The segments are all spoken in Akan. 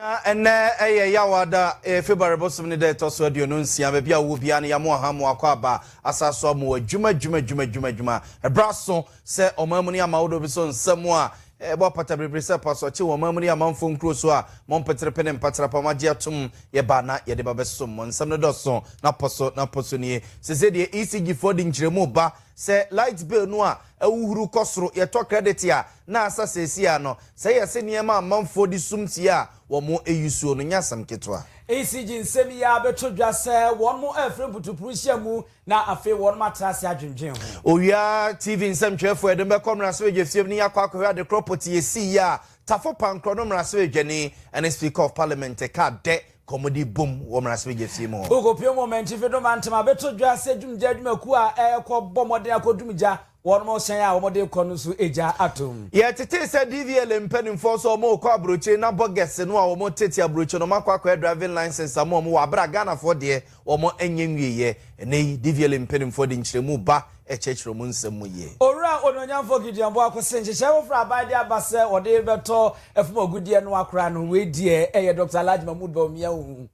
Na ɛnnɛ yɛ Yawoada, ɛyɛ February bosom ne da a ɛtɔ so aduonu nsia. Baabi a wowɔ biara no, yɛamo aha mo akɔ aba, asan so amo adwuma, adwuma, adwuma, adwuma, adwuma. Ɛbra so sɛ ɔman mu ne aman ahodoɔ bi so nsɛm a ɛbɔ apata biribiri sɛ pasoɔkye wɔ ɔman mu ne amanfoɔ nkuro so a mo mpeterepe ne mpatrapa a moagye atom yɛba na yɛde ba bɛsom mo. Nsɛm no dɔso na pɔ so na pɔ so nie. Seesei deɛ ECG foɔ de nkyerɛmu reba sɛ light bill no a ahuhuru kɔ soro, yɛtɔ credit a na asa seesei ara no, sɛ yɛ se nneɛma a amanfoɔ de sum tie a wɔn ayusuo no nyɛ asɛm ketewa. ECG nsɛm yi ara bɛtɔ dwa sɛ wɔn afiri mputupuru hyia mu na afei wɔn atra ase adwendwen ho. Owia TV nsɛmtwerɛfoɔ yɛde mo bɛkɔ mmarahyɛbadwafie mu na yɛakɔ akɔhwɛ ade korɔ pɔtee a ɛsiiɛ a Tafo Pankorɔ no mmarahyɛbadwani ne Speaker of Parliament kaa dɛ kɔmmude bom wɔ mmaransɛbadwafie mu hɔ. Wokɔpue mu wɔ Mantwi Fedo Mantam Abeto Dwa sɛ dwumgya adwumakuo a ɛrekɔbɔ mmɔden akɔdum gya wɔ wɔn hyɛn a wɔde rekɔ no so gya atom. Yɛtetee sɛ DVLA mpanimfoɔ nso wɔrekɔ aburokyire na bɔgɛse no a wɔtete aburokyire no wɔakɔ akɔyɛ driving licence ama wɔn wɔ aberɛ a Ghanafoɔ deɛ Wɔanyɛ nwieeɛ. Ɛnnɛ yi, dvle mpanimfoɔ de nkyerɛmu ba kyerɛkyerɛ wɔn nsɛm mu yie. Owura Onuonyamfoɔ Gideon Boako se nhyehyɛe foforɔ a aban de aba sɛ wɔde rebɛtɔ fam agudeɛ no akora no, wei deɛ ɛyɛ Doctor Alhaji Mahmood Bawumia hu.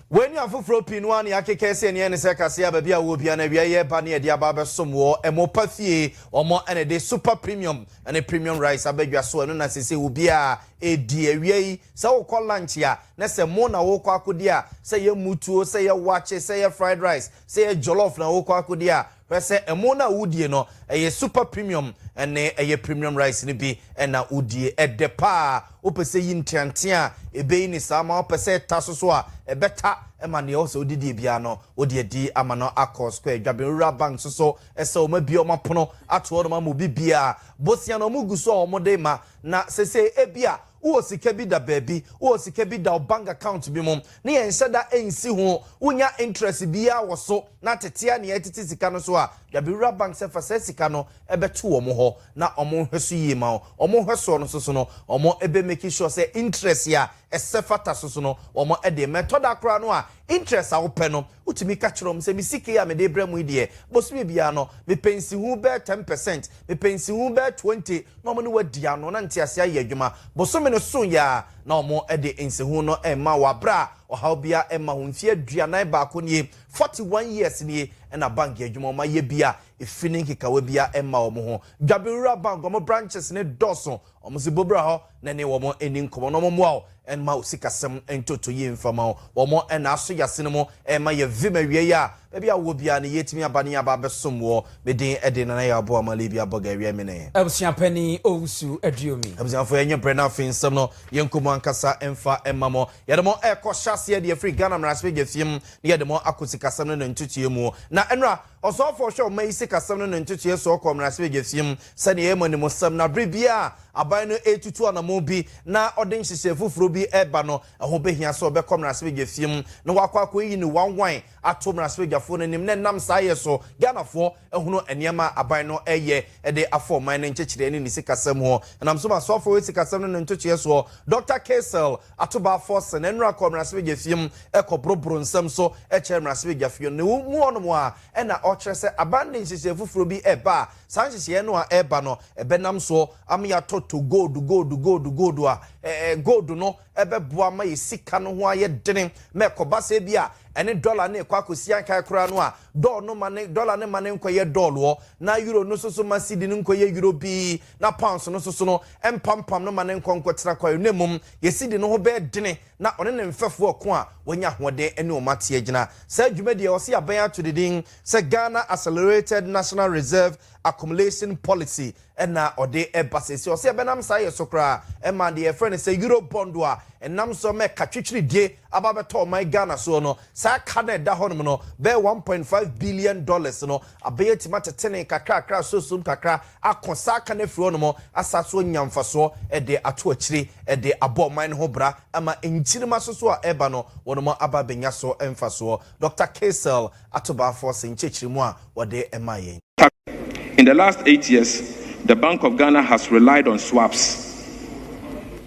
Wei ne afoforɔ pii no ara na yɛakeka sɛ nea ɛne sɛ kaseɛ a baabi a wɔwɔ biara no awia yɛ ba ne yɛde aba abɛsom wɔ mo pa fie. Wɔn na ɛde Super Premium ne Premium Rice aba dwa so, ɛno na seesei obiara redi awia yi. Sɛ wokɔ lunch a, na sɛ mo na wokɔ akodi a, sɛ ɛyɛ mutuo, sɛ ɛyɛ wakye, sɛ ɛyɛ fried rice, sɛ ɛyɛ jollof na wokɔ akodi a, hwɛ sɛ ɛmo no a wodie no, ɛyɛ super premium ne ɛyɛ premium rice no bi na wodie. Ɛdɛ paa. Wopɛ sɛ yi nteantea a, ɛbɛyi no saa ma wo. Pɛ sɛ ɛta so so a, ɛbɛta ma deɛ ɛwɔ sɛ wode die biara no, wode adi ama no akɔ square. Dwabenwura Bank nso so, ɛsɛ wɔabue wɔn apono ato hɔnom ama obi biara. Bosea no wɔgu so a wɔde rema, na seesei ebia Wowɔ sika bi da baabi, wowɔ sika bi da wo bank account bi mu na yɛnhyɛ da nsi ho, wonnya interest biara wɔ so na tete ara na yɛretete sika no so a, Dabewura Bank sɛ fa saa sika no bɛto wɔn hɔ na wɔnhwɛ so yie ma wo. Wɔn nhwɛsoɔ no nso so no, wɔbɛ make sure sɛ interest a ɛsɛ fata so so no, wɔde ma. Ɛtɔ da koraa no a, Interest a wopɛ no, wotumi ka kyerɛ wɔn sɛ, me sika yi a mede rebrɛ mo yi deɛ, bosome biara no, mepɛ nsiho bɛyɛ ten percent, mepɛ nsiho bɛyɛ twenty, na wɔne wo adi ano, na nteaseɛ ayɛ adwuma. Bosome no soeɛ ara na wɔde nsiho no rema wo, berɛ a ɔhaw biara mma ho. Mfeɛ aduanan baako nie, forty one years nie, na bank adwuma, wɔayɛ bi a, efi ne nkekawa biara mma wɔn ho. Dwabewura Bank, wɔn branches no dɔɔso. Wɔsi bo bra hɔ na ne wɔn nni nkɔmmɔ na wɔmmoa wo mma wo sikasɛm ntoto yie mfa mma wo. Wɔn na aso yɛ asene mu rema yɛ vim awia yi a baabi a wowɔ biara no yɛretumi aba ne yɛaba abɛsom woɔ. Me din de Nana Yaw-Boa Amalibia Boga Awia Mene. Abusua Panin Owusu Aduomi. Abusuafoɔ yɛnyɛ brɛ na afei nsɛm no yɛnkɔ mu ankasa mfa mma mo. Yɛde mo rekɔ hyɛ aseɛ de afiri Ghana Mmarahyɛbadwa fie mu na yɛde mo akɔ sikasɛm no ne ntotoeɛ mu. Na nnora Ɔsɔfo a ɔhwɛ ɔman yi sikasɛm no ne ntotoeɛ soɔ kɔɔ mmarahyɛbadwafie mu sɛdeɛ ɛyɛ mmɔnemmɔsɛm na berɛ biara a aban no retutu anammɔn bi na ɔde nhyehyɛe foforɔ bi reba no, ɛho bɛhia sɛ ɔbɛkɔ mmarahyɛbadwafie mu na wakɔ akɔyi ne wanwan ato mmarahyɛbadwafoɔ no anim na ɛnam saa yɛ so Ghanafoɔ ahunu nneɛma a aban no reyɛ de afa ɔman no nkyekyerɛ ne ne sikasɛm ho. Ɛnam so ma Ɔsɔfo a ɔhwɛ sikasɛm no ne ntotoeɛ soɔ, Dɔkta Kaysel ato baa fɔse na nnora kɔɔ mmarahyɛbadwafie mu kɔboroboro nsɛm so kyerɛɛ mmarahyɛbadwafie no. Na ɛwom mu hɔnom ara na ɔkyerɛ sɛ aban de nhyehyɛe foforɔ bi reba a saa nhyehyɛeɛ no a ɛreba no bɛnam so ama yɛatɔtɔ gold, gold, gold, gold a gold no bɛboa ma yɛn sika no ho ayɛ dene ma ɛkɔba sɛ bi a ɛne dɔla no rekɔ akɔsi ankae koraa no a dɔl no ma ne dɔla no ma ne nkɔyɛ dɔloɔ na euro no nso so ma sidi no nkɔyɛ euro bi na pounds no nso so no, ɛmpampam no ma ne nkɔ nkɔtra kwae, na mmom yesidi no ho bɛyɛ dene na ɔne ne mfɛfo ɔko a wanya ahoɔden ne wɔn ate agyina. Saa dwumadi a ɛwɔ sɛ yɛaben ato ne din sɛ Ghana Accelerated National Reserve Accumulation Policy na ɔde reba seesei. Ɛwɔ sɛ yɛbɛnam saa yɛ so koraa ma deɛ yɛfrɛ no sɛ Eurobond a ɛnam so ma ɛka twitwiridie aba abɛtɔ ɔman Ghana soɔ no. Saa ka no a ɛda hɔnom no bɛyɛ one point five billion dollars no Abɛyɛ atumi atetene kakrakra, suasum kakra, akɔ saa kan afiri hɔ nom, asan so anya mfasoɔ de ato akyire, de abɔ ɔman no ho bra, ama nkyirimma so so a ɛreba no, wɔnom aba abɛnya so mfasoɔ. Dɔkta Kaysel Atobaafo se nkyerɛkyerɛmu a wɔde maa yɛn. In the last eight years, the Bank of Ghana has relied on swaps.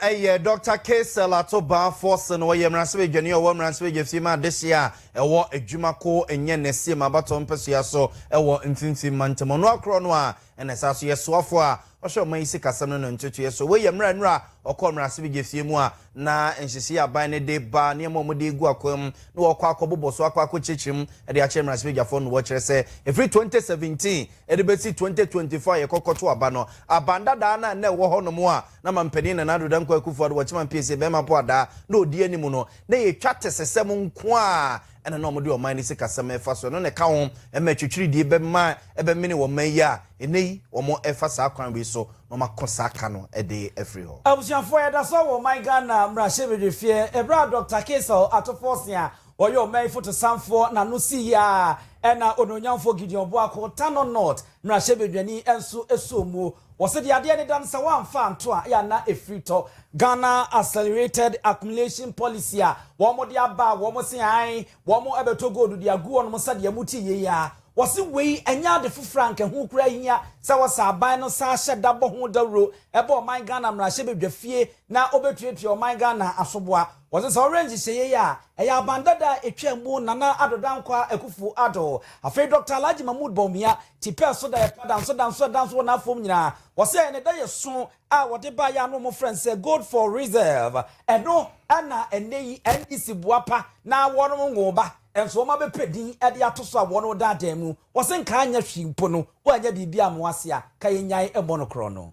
Ɛyɛ Dɔkta Keisel Ato Baa Forson. Ɔyɛ mmaransɛbadwani a ɔwɔ mmaransɛbadwafie ma adehyeɛ a ɛwɔ Adwuma ko nyɛ Nɛsiem abatoɔ mpasua so wɔ Mfimfini Mantam. Ɔno ara korɔ no ara na ɛsan so yɛ soafoɔ a ɔhwɛ ɔman yi sikasɛm no ne ntotoeɛ so. Wei yɛ mmerɛ a nnora ɔkɔɔ mmaransɛbadwafie mu a na nhyehyɛeɛ a aban no de ba nneɛma a wɔde regu akwan mu na wɔkɔ akɔbobɔ so akɔ akɔkyerɛkyerɛ mu de akyerɛ mmaransɛbadwafoɔ no wɔkyerɛ sɛ ɛfiri 2017 de bɛsi 2024 a yɛkɔkɔto aba no aban dadaa no a na ɛwɔ hɔnom a Na Mampanyin Nana Addo Dankwa Akufo-Addo wɔkye ma mpie se bɛrima po adaa na odi anim no, na ɛyɛ twa tesesɛm nko ara ɛna na wɔde ɔman no sikasɛm ɛfa so. Ɛno na ɛka ho ma atwitwiridie bɛma ɛbɛmene wɔ man yi a ɛnɛ yi wɔn ɛfa saa kwan wei so na wɔn ako saa ka no de afiri hɔ. Abusuafoɔ yɛda so wɔ ɔman Ghana mmarahyɛbedwafie ɛberɛ a Dɔkta Kaysel Atofo-Ɔsea Ɔyɛ ɔman fotosanfoɔ na no sii aa ɛna onuonyamfoɔ Gideon Boako, Tano North, mmarahyɛbadwani nso suo mu. Wɔ se deɛ adeɛ no da no sɛ wɔamfa anto a ya na ɛfiri tɔ. Ghana Accelerated Accumulation Policy a wɔn de aba a wɔn se ae wɔn bɛtɔ gold de agu wɔnom nsa deɛ mote yei a, wɔ se wei ɛnyɛ ade foforɔ a anka ɛho koraa hia sɛ wɔ se aban no saa hyɛ da bɔ ho dawuro bɔ ɔman Ghana mmarahyɛbadwafie na wɔbɛtuatua ɔman Ghana asoboa. Wɔse sɛ ɔwerɛ nhyehyɛeɛ yi a ɛyɛ aban dada a ɛtwaam mu Nana Addo Dankwah Akuffo Addo, afei Dɔkta Alhaji Mahmood Bawumia, ti pɛɛ so da yɛ pa danso danso ɛda nso wɔ n'afɔm nyinaa. Wɔse ɛyɛ ne da yɛ so a wɔde baeɛ a na wɔfrɛ no sɛ Gold for Reserve. Ɛno na ɛnnɛ yi NDC boapa na wɔnwoo ba nso wɔabɛpɛ din de ato so a wɔredaadaa mu. Wɔse nka anyɛ hwee mpo no wɔannya biribi ammɔ ase a, ka yɛnnyae mmɔ no korɔno.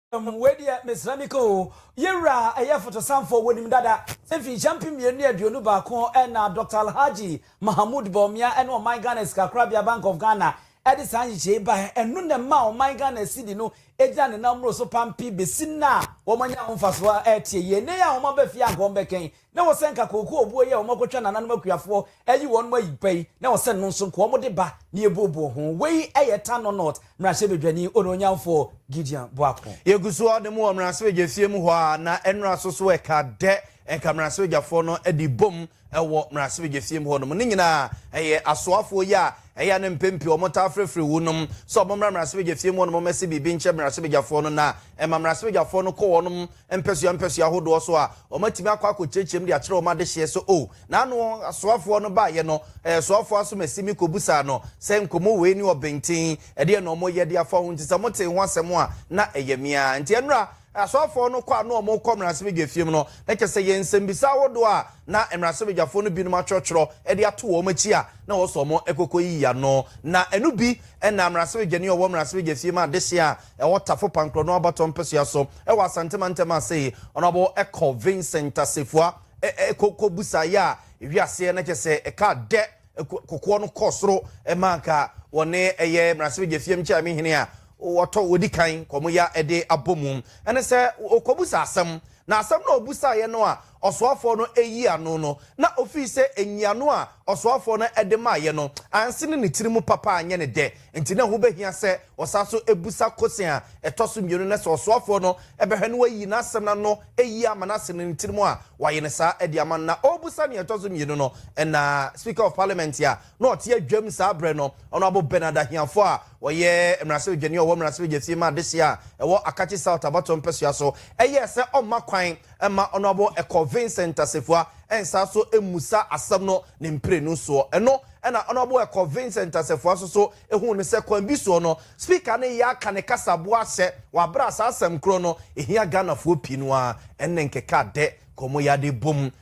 Hwɛm, wei deɛ mesra me ka oo. Yɛ wura a ɛyɛ fotosanfoɔ, wɔnim dada sɛ mfinhyia mpem mmienu ne aduonu baako na Dɔkta Alhaji Mahamood Bawumia ne ɔman Ghana Sikakorabea, Bank of Ghana, de saa nhyehyɛe yi baeɛ. Ɛno na ɛmaa ɔman Ghana sidi no gyina ne nan mmoro so pampe bɛsi nnɛ a wɔanya ho mfasoɔ te yie. Nnɛ yi a wɔaba fie a anka wɔbɛka yi, na wɔsɛ nka kooko obuo yi a wɔakɔtwa nananom akuafoɔ ayi wɔn mu ayi pɛ yi, na wɔsɛ no nso nka wɔde ba na yɛbuobuo ho. Wei yɛ Tanno North mmarahyɛbadwani onuonyamfoɔ Gideon Boako. Yɛgu so ara da mu wɔ mmarahyɛbadwafie mu hɔ ara, na nnora so so ɛka dɛ nka mmarahyɛbadwafoɔ no de bom wɔ mmarahyɛbadwafie mu hɔnom. Ne nyinaa, ɛyɛ asoafoɔ yi a Ɛyɛ a no mpɛn pii wɔtaa frɛfrɛ wunom sɛ wɔmmra mmarahyɛbadwafie mu hɔ na wɔmmɛse biribi nkyerɛ mmarahyɛbadwafoɔ no na ɛma mmarahyɛbadwafoɔ no kɔ wɔn mpɛsoa mpɛsoa ahodoɔ so a wɔatumi akɔ akɔkyerɛkyerɛ mu de akyerɛ wɔn adehyeɛ so o na ano asoafoɔ no baeɛ no ɛɛ soafoɔ Asomasi-Mik kɔbusaa no sɛ nkɔmmɔ wei ne ɔbenten ɛdeɛ na wɔyɛ de afa ho nti sɛ motee ho asɛm a na ɛyɛ me ara nti ɛnora Asɔfoɔ no kɔ a na wɔrekɔ mmaransɛbadwafie mu no, na kyerɛ sɛ yɛn nsɛmmisa ahodoɔ a na mmaransɛbadwafoɔ no binom atwerɛtwerɛ de ato wɔn akyi a na wɔn nso wɔkɔkɔyiyi ano. Na ɛno bi na mmaransɛbadwani a ɔwɔ mmaransɛbadwafie mu adehyeɛ a ɛwɔ Tafo Pankorɔno Abatoɔ mpɛsoa so wɔ Asante mantam ase yi, Honourable Col Vincent Assefuah kɔbisaeɛ a ɛhwii aseɛ na kyerɛ sɛ ɛkaa dɛ kokoɔ no kɔɔ soro ma anka wɔne ɛyɛ mmaransɛbadwafie nkyɛaame hene a wɔtɔ wɔdi kan kɔ mu ya de abɔ mu ne sɛ ɔkɔbusa asɛm, na asɛm no a ɔbusaeɛ no a ɔsoafoɔ no yii ano no, na ɔfiri sɛ nyiano a ɔsoafoɔ no de maeɛ no ansene ne tiri mu papa anyɛ no dɛ, nti na ɛho bɛhia sɛ ɔsan so bisa kɔsen a ɛtɔ so mmienu na sɛ ɔsoafoɔ no bɛhwɛ na wayi n'asɛm no ano yie ama no asene ne tiri mu a, wayɛ no saa de ama no. Na ɔrebusa deɛ ɛtɔ so mmienu no, na Speaker of Parliament a na ɔte adwam saa berɛ no, Honourable Bernard Ahiafoɔ a ɔyɛ mmarahyɛbadwani a ɔwɔ mmarahyɛbadwasie ma adehyeɛ a ɛwɔ Akatsi South abatoɔ mpɛsoa so yɛɛ sɛ ɔmma kwan mma Honourable Ɛkɔ Vincent Asafua nsan so mmusa asɛm no ne mprenu soɔ. Ɛno na Honourable Ɛkɔ Vincent Asafua nso so huu no sɛ kwan bi soɔ no Speaker no reyɛ aka ne kasaboa ahyɛ wɔ aberɛ a saa asɛm korɔ no ɛhia Ghanafoɔ pii no ara ne nkeka dɛ kɔn mu yɛ ade bom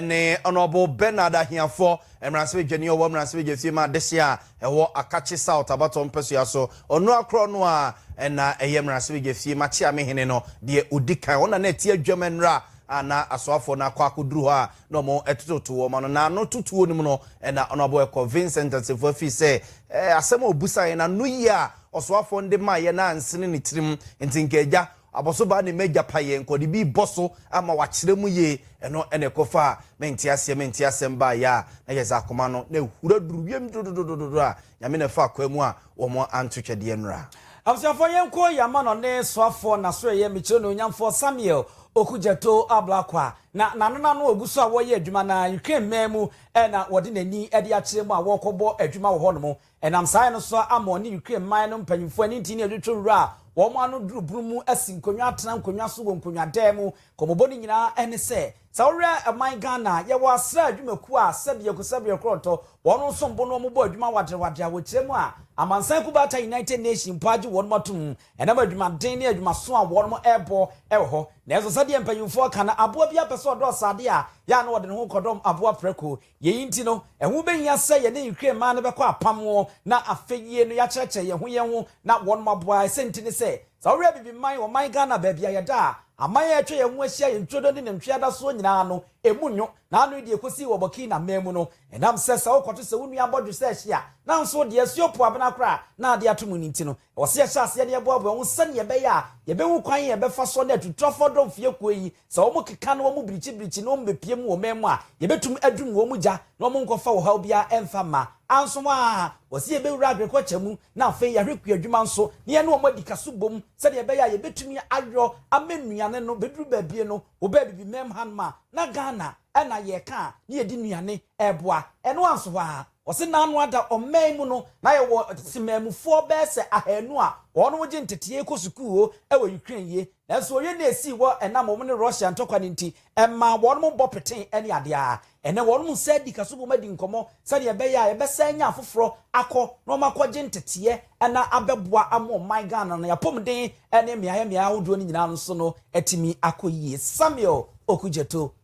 ne Honourable Bernard Ahiafoɔ, mmaransebadwani a ɔwɔ mmaransebadwafie mu adehyeɛ a ɛwɔ Akakye South abatoɔ mpasua so. Ɔnoa korɔ no ara na ɛyɛ mmaransebadwafie mu akyeamehene no deɛ ɔdi kan. Wɔn na na ɛte adwam nnora a na asoafoɔ no akɔ akɔduru hɔ a na wɔtototo wɔn ano. Na ano totoɔ no mu no na Honourable Ɛkɔ Vincent Assefuah fii sɛ asɛm a ɔbusaeɛ no ano yie a ɔsoafoɔ no de maeɛ no ansene ne tirim nti nka agya Abɔso baa ne m'agya payɛ nkɔde bi rebɔ so ama wakyerɛ mu yie, ɛno na ɛkɔfaa me nteaseɛ me nteasɛm baeɛ a na yɛdze akoma no na ahura duru wiem dodododododo a Nyame na ɛfaa kwaa mu a wɔn anto twɛdeɛ nnora. Abusuafoɔ yɛnkɔ Yama no ne soafoɔ Nasoɛyɛ mekyerɛ no onyamfoɔ Samuel Okudzeto Ablakwa na nanena no ɔgu so a wɔreyɛ adwuma na Ukraine man mu na wɔde n'ani de akyerɛ mu a wɔrekɔbɔ adwuma wɔ hɔ nom Ɛnam saa yɛ no so a ama ɔne Ukraine man no mpanyimfo ani nti ne adwotwo nwura a wɔn ano duru boro mu asi nkonnwa atena nkonnwa so wɔ nkonnwadan mu. Nkɔmmɔbɔ no nyinaa ne sɛ, sɛ wohwɛ ɔman Ghana a, yɛwɔ asra adwumakuo a sɛdeɛ kusabea korɔntɔ, wɔn no nso mbo no wɔbɔ adwuma waderewadere a wɔkyerɛ mu a amansan kubata United Nations mpo agye wɔnom atom ɛnam adwumaden ne adwumaso a wɔnom ɛrebɔ wɔ hɔ. Nanso sɛdeɛ mpanyimfoɔ ka no, aboa biara pɛ sɛ ɔdɔɔso adeɛ a, yɛ a na wɔde ne ho kɔdɔm aboa prɛko. Yei nti no, ɛho bɛhia sɛ yɛne Ukraine mmaa no bɛkɔ apam ho na afei yie no yɛakyerɛkyerɛ yɛn ho yɛn ho na wɔnom aboa. Ɛsɛ nti ne sɛ, sɛ wohwɛ Abibiman, ɔman Ghana, baabi a yɛda a, aman a atwa yɛn ho ahyia, yɛn turodoo ne nantwie adasoɔ nyinaa no, ɛmu nwo, na ano yi deɛ ɛkɔsii wɔ Burkina mmaa mu no, ɛnam sɛ sɛ wokɔto sɛ wo nua abɔdwe sɛ ɛhye a, nanso deɛ ɛso yɛ opoabena koraa na ade ato mu no nti no, Ɛwɔ sɛ yɛhyɛ aseɛ na yɛboaboa yɛn ho sɛdeɛ ɛbɛyɛ a yɛbɛhu kwan a yɛbɛfa so ne atutrafoɔ dɔmfeɛkuo yi, sɛ wɔkeka na wɔbirikyibirikyi na wɔbɛpue mu wɔ ɔman mu a, yɛbɛtumi adum wɔn gya na wɔnkɔfa ɔhaw biara ɛmfa mma. Anso a, ɛwɔ sɛ yɛbɛwura agriculture mu na afei yɛahwɛ kuadwuma nso na yɛne wɔn adi kaso bom sɛdeɛ ɛbɛyɛ a yɛbɛtumi ayɔ ama nnuane no bɛduru baabi no wɔbɛ abibi mɛmha nom a, na Ghana na yɛka a na yɛde nnuane ɛreboa ɛno anso a, Ɔse naano ada ɔman mu no na yɛwɔ temanmufoɔ bɛyɛ sɛ ahaanu a wɔnom gye nteteɛ kɔ sukuu o wɔ Ukraine yie nanso oye na esii hɔ ɛnam wɔnom ne Russia ntɔkwa no nti ɛmaa wɔnom bɔ petee ɛne adeɛ a ɛnɛ wɔnom nsa adi kaso bom adi nkɔmɔ sɛdeɛ ɛbɛyɛ a yɛbɛsan anya afoforɔ akɔ na wɔn akɔ gye nteteɛ na abɛboa ama ɔman Ghana no yapɔmuden ne mmeaɛ mmeaɛ ahodoɔ no nyinaa no so no atumi akɔ yie Samuel Okudzeto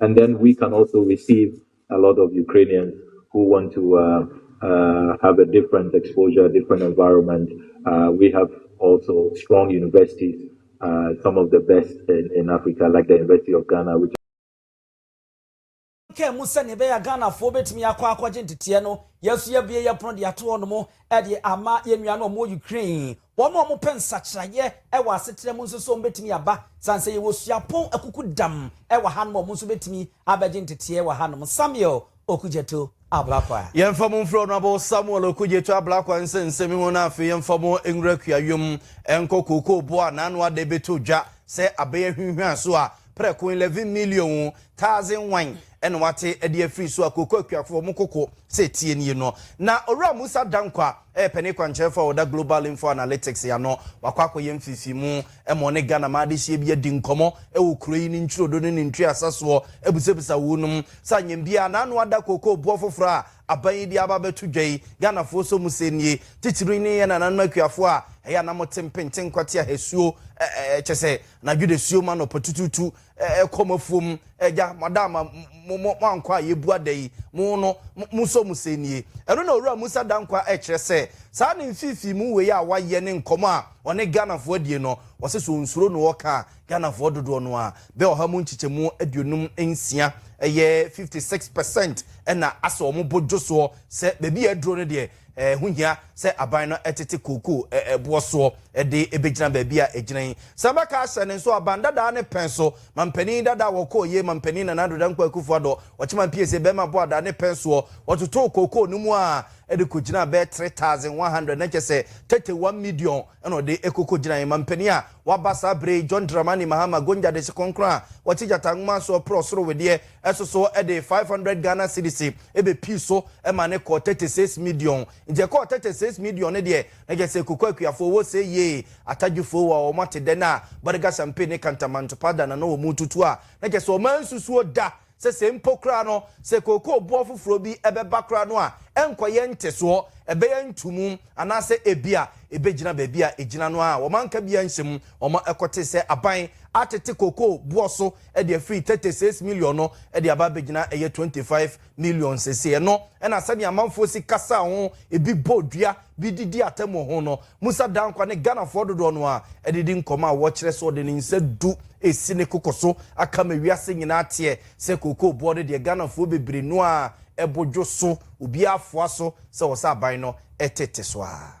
And then we can also receive a lot of Ukrainians who want to uh, uh, have a different exposure, different environment. Uh, we have also strong universities, uh, some of the best in, in, Africa, like the University of Ghana, which. kaa mu sɛ nea ɛbɛyɛ ghanafoɔ bɛtumi akɔ akɔgye nteteɛ no yɛn nso yɛbie yɛ pono de ato hɔ nom de ama yɛn nua no wɔn wɔ ukraine Wɔn a wɔpɛ nsakyeraeɛ wɔ asetena mu nso so, wɔbɛtumi aba. Sane sɛ yɛwɔ suapɔn akukudam wɔ hanom a, wɔn nso bɛtumi abɛgye nteteɛ wɔ hanom. Samuel Okudzeto Ablakwa. Yɛmfa mo mfiri Honourable Samuel Okudzeto Ablakwa nsɛnsɛm ho na afei yɛmfa mo nwura kuayom nkɔ kookoo bo a n'ano ada ɛbɛtɔ dwa sɛ abɛn ahwinhwan so a prɛko 11 million wo, taase nwan Ɛna wate ɛde afiri so a kooko akuafoɔ wɔn koko sɛ ɛteɛ nie no. Na Owura Musa Dankwah ɛyɛ panin kwankyerɛfoɔ a ɔda Global Info Analytics ano. Wakɔ akɔyɛ mfefimu ma ɔne Ghanaman adehyeɛ bi adi nkɔmmɔ wɔ kuro yi ne ntwirodo ne ne ntweasa soɔ abusabisa wuu nom sɛ anyɛ biara na ano ada kooko boɔ foforɔ a aban yi de aba abɛto dwa yi. Ghanafoɔ nso mo sɛ nie titiriw ne yɛn nananom akuafoɔ a ɛyɛ a na mote mpenten kwateaha asuo, kyɛsɛ anadwo dasuo mu anɔpa tutuutu Ɛkɔm afuom agya madam a mo mo ankɔ a yɛbua da yi mo no mo sɔ mu sɛ nie ɛno na owura Musa Dankwa ɛkyerɛ sɛ saa ne mfifii mu wei a wayɛ ne nkɔmɔ a ɔne Ghanafoɔ adie no ɔse sɛ ɔnsuro no ɔka a Ghanafoɔ dodoɔ no ara bɛ ɔha mu nkyekyɛmu aduonum nsia ɛyɛ 56 percent ɛna asɛ ɔmo bo dwosoɔ sɛ baabi a aduro no deɛ Ɛho hia sɛ aban no tete kookoo boɔ soɔ de bɛgyina baabi a ɛgyina yi. Sɛ bɛka ahyɛ no nso a, ban dadaa ne pɛn so. Mampanin dadaa wɔkɔɔyie, Mampanin Nana Addo Dankwa Akuffo Addo, Ɔkyema Mpiese, bɛrima boadaa ne pɛn soɔ, wɔtotoo kookoo no mu ara de kɔgyinaa bɛyɛ 3,100, na kyerɛ sɛ tete one midiɔn na ɔde kɔkɔgyinaeɛ. Mampanin a waba saa berɛ yi, John Dramani Mahama, Gonja Dese Kronkron a ɔte Gyata Nwoma soɔ, porɔ soro wedeɛ, so so de five hundred Ghana cedis bɛpii so ma no kɔɔ thirty six midiɔn. Nti ɛkɔɔ thirty six midiɔn no deɛ, na kyerɛ sɛ Koko Akuafoɔ wɔ se yie. Atadwifoɔ wɔ a wɔn ate dɛ no a, Bariga Champagne ne Kantamanto Powder na na wɔn retutu a, na kyerɛ sɛ wɔn ansusuo da sɛ sɛ mpo koraa no, sɛ kookoo boɔ foforɔ bi bɛba koraa no a, ɛnkɔyɛ ntesoɔ, ɛbɛyɛ ntumu, anaasɛ ebia ɛbɛgyina baabi a ɛgyina no ara a. Wɔn anka biara nhyɛmu, wɔn kɔtee sɛ aban atete kookoo boɔ so de afiri thirty six million no de aba abɛgyina ɛyɛ twenty five million sese ɛno ɛna sɛdeɛ amanfoɔ si kasa ho ebi bɔ dua bi didi atɛmɔ ho no musa dankwa ne ghanafoɔ dodoɔ no a ɛdidi nkɔmɔ a wɔkyerɛ sɛ ɔde ne nsa du esi ne koko so aka ma wiase nyinaa teɛ sɛ kookoo boɔ no deɛ ghanafoɔ bebree no a ɛbodwo so obiara foa so sɛ wɔ sɛ aban no ɛtete so a.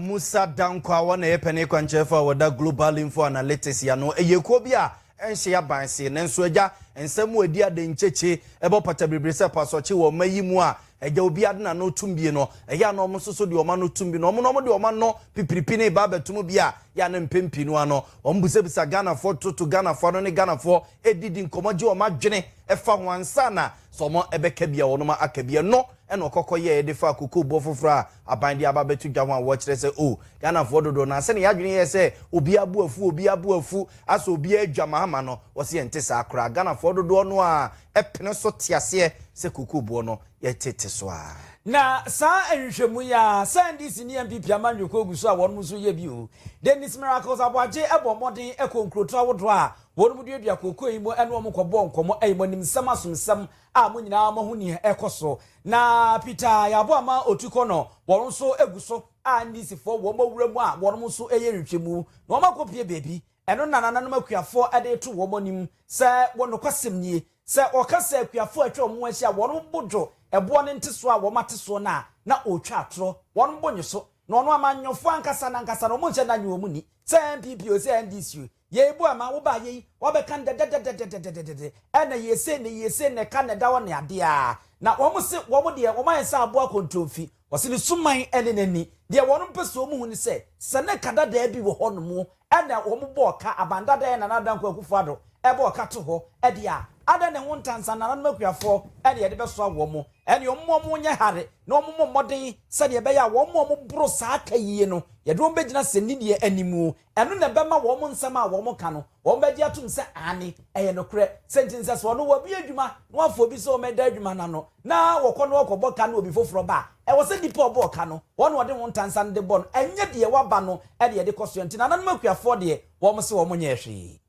Musa Danko a wɔn na ɛyɛ panin kwankyerɛfo a wɔda Global Info Analytics yɛ ano. Ɛyɛ kuo bi a ɛnhyɛ aban se, nanso agya nsɛm mu adi ade nkyekye ɛbɔ pata biribiri sɛ pasɔkye wɔ ɔma yi mu a agya obiara de n'ano tum bie no. Ɛyɛ a na wɔn nso so de wɔn ano tum bi na wɔn na wɔn de wɔn ano pipiripi ne ba abɛto mu bi a yɛ a na mpɛn pii no ano wɔn bisabisa Ghanafoɔ, toto Ghanafoɔ ano ne Ghanafoɔ didi nkɔmmɔ gye wɔn adwene ɛfa ho ansa na Sɛ ɔma ɛbɛka bi a, ɔnoma aka bi. Ɛno na ɔkɔkɔ yɛɛ de faa kokoobɔ foforɔ a aban de aba abɛto dwa ho a wɔkyerɛ sɛ, oh, Ghanafoɔ dodoɔ no ara, sɛdeɛ yɛn adwene yɛ sɛ obiara bo afu, obiara bo afu, asɔ obiara adwamaama no, wɔse ɛnte saa koraa. Ghanafoɔ dodoɔ no ara pene so te aseɛ sɛ kokooboɔ no yɛtete so ara. Na saa nhwehwɛmu yi ara, sɛ NDC ne NPP ama nnwoko agu so a wɔnom nso yɛ bi o. Dennis Miracles Aboagye bɔ mmɔden kɔ nkurotoɔ ahodoɔ a Wɔnom duadua kookoo yi mo ɛne wɔn kɔ bɔɔ nkɔmɔ ɛyi mo anim nsɛm asomsɛm a mo nyinaa mo ahu neɛ ɛkɔ so na Peter yɛabɔ ama ɔtu kɔ no wɔn nso gu so a NDC foɔ wɔn awura mu a wɔnom nso ɛyɛ nhwɛ mu na wɔn akɔ pie baabi ɛno na nananom akuafoɔ ɛde reto wɔn anim sɛ wɔ nokwasɛm nie sɛ ɔka sɛ akuafoɔ atwa wɔn ho ahyia wɔnom bo dwo ɛboɔ ne ntesoɔ a wɔn ate soɔ no a na ɔretwa atorɔ wɔnom bo nnye so na ɔno amanyɔfoɔ ankasa no ankasa no wɔn nhyɛ da nye wɔn nni sɛ NPP o sɛ NDC o. Yei boa ma wo baa yei wɔbɛka no dɛdɛdɛdɛdɛdɛdɛdɛdɛdɛ ɛna yie sei na yie sei na ɛka na ɛda hɔ ne adeɛ a na wɔn se wɔn deɛ wɔn ayɛ sɛ aboa kɔntronfi wɔse ne suman ne n'ani deɛ wɔn mpɛ sɛ wɔn hu ne sɛ sɛ ne ka dadaa bi wɔ hɔ nom ɛna wɔn bɔɔ ka aban dadaa Nana Addo Dankwa Akufo Addo ɛbɔɔ ka to hɔ ɛdeɛ a adɛn na ɛho nta nsa nananom akuafoɔ ɛna yɛde bɛsoa wɔn ɛne wɔn ma wɔn nyɛ hare na wɔn mmɔ mmɔden sɛdeɛ ɛbɛyɛ a wɔn a wɔn boro saa ka yie no yɛde wɔn bɛgyina sɛ nnideɛ animuo Ɛno na ɛbɛma wɔn nsɛm a wɔka no, wɔbɛgye atom sɛ aane, ɛyɛ nokorɛ. Sɛ nti nsɛ sɛ ɔno wɔbue adwuma na wafa obi sɛ ɔmmɛda adwuma no ano na wɔkɔ na wɔkɔbɔ ka no obi foforɔ ba a, ɛwɔ sɛ nnipa a ɔbɔɔ ka no, wɔn na wɔde ho ntansa no de bɔ no, ɛnyɛ deɛ waba no de ɛde kɔ soɛ. Nti nananom akuafoɔ deɛ, wɔn se wɔn nyɛɛ hwee.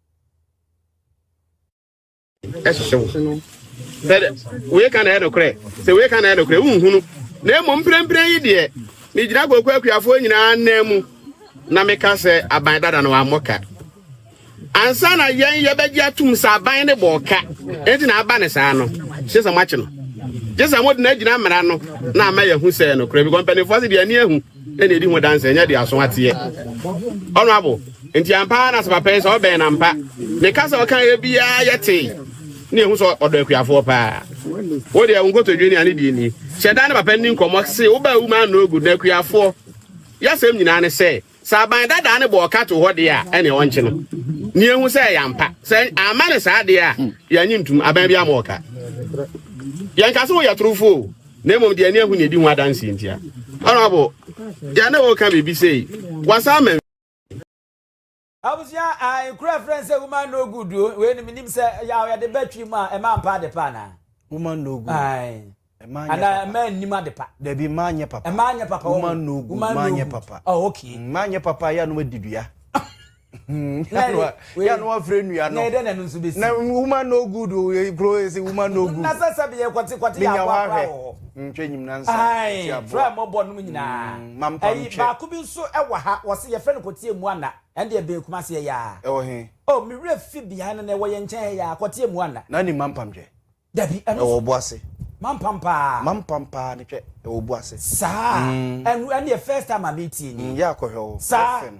ɛhyehye wo sɛ wei ka na ɛyɛ nokorɛ sɛ wei ka na ɛyɛ nokorɛ wonhunu na mmom mprɛmprɛn yi deɛ megyina koko akuafoɔ nyinaa nan mu na meka sɛ aban dada no wammɔ ka ansa na yɛn yɛbɛgye atom sɛ aban ne bɔɔ ka enti na aba ne saa no gye sɛ moakye no gye sɛ mode no agyina mmara no na ama yɛahu sɛ nokorɛ bi kɔ mpanimfoɔ se deɛ ani ahu ɛna ɛdi ho danse ɛnyɛ de aso ateɛ ɔnoabo nti ampa na sɛ papa yi sɛ ɔbɛn na mpa ne ka sɛ ɔka yɛ biara yɛ tee ne ɛhu sɛ ɔdɔ akuafoɔ paa wo deɛ wo nkotodwe ne ane deɛ ni hyɛ da ne papa ni nkɔmmɔ se wobaa wu ma no ogu na akuafoɔ yɛasɛm nyinaa ne sɛ sɛ aban dadaa ne bɔ ɔka to hɔ deɛ a ɛne ɔnkye no ne ɛhu sɛ ɛyɛ ampa sɛ ama ne saa deɛ a yɛanye ntum aban bi ama ɔka yɛnka sɛ woyɛ torofoɔ na mmom deɛ ani ahu na ɛdi ho adanseɛ ntia. Honorable, deɛ na wɔka biribi sei, wasan ma Abusua a nkura frɛ no sɛ woman no good o wei no menim sɛ yaw yɛde bɛtwe mu a ɛma mpa ade pa anaa woman no good ae ana ɛma nnim ade pa dabi mma nyɛ papa ɛma nyɛ papa woman no good mma nyɛ papa oh okay mma nyɛ papa yɛ anom adidua yanu afre nua no na woman no good o kuro esi woman no good na sɛ sɛ bi yɛ kɔte kɔte yɛ aboa kora wɔ hɔ ntwa nyim na nsa ti aboa fura mo bɔ nom nyinaa mm, ɛyi baako bi nso ɛwɔ ha wɔsi yɛfrɛ no kɔte emu ana ɛnde ɛbɛn kuma se ɛyɛ a ɛwɔ he o mi werɛ fi behind no na ɛwɔ yɛn nkyɛn ha yɛ a kɔte emu ana na ne ma mpamtwɛ Dabi, ɛno ɛwɔ bo ase. Mampam paa. Mampam paa ne hwɛ ɛwɔ bo ase. Saa. Mm. Ɛno ɛne yɛ first time a metie ni. Mm, yɛ akɔhwɛ o. Saa. Ɛfɛ no.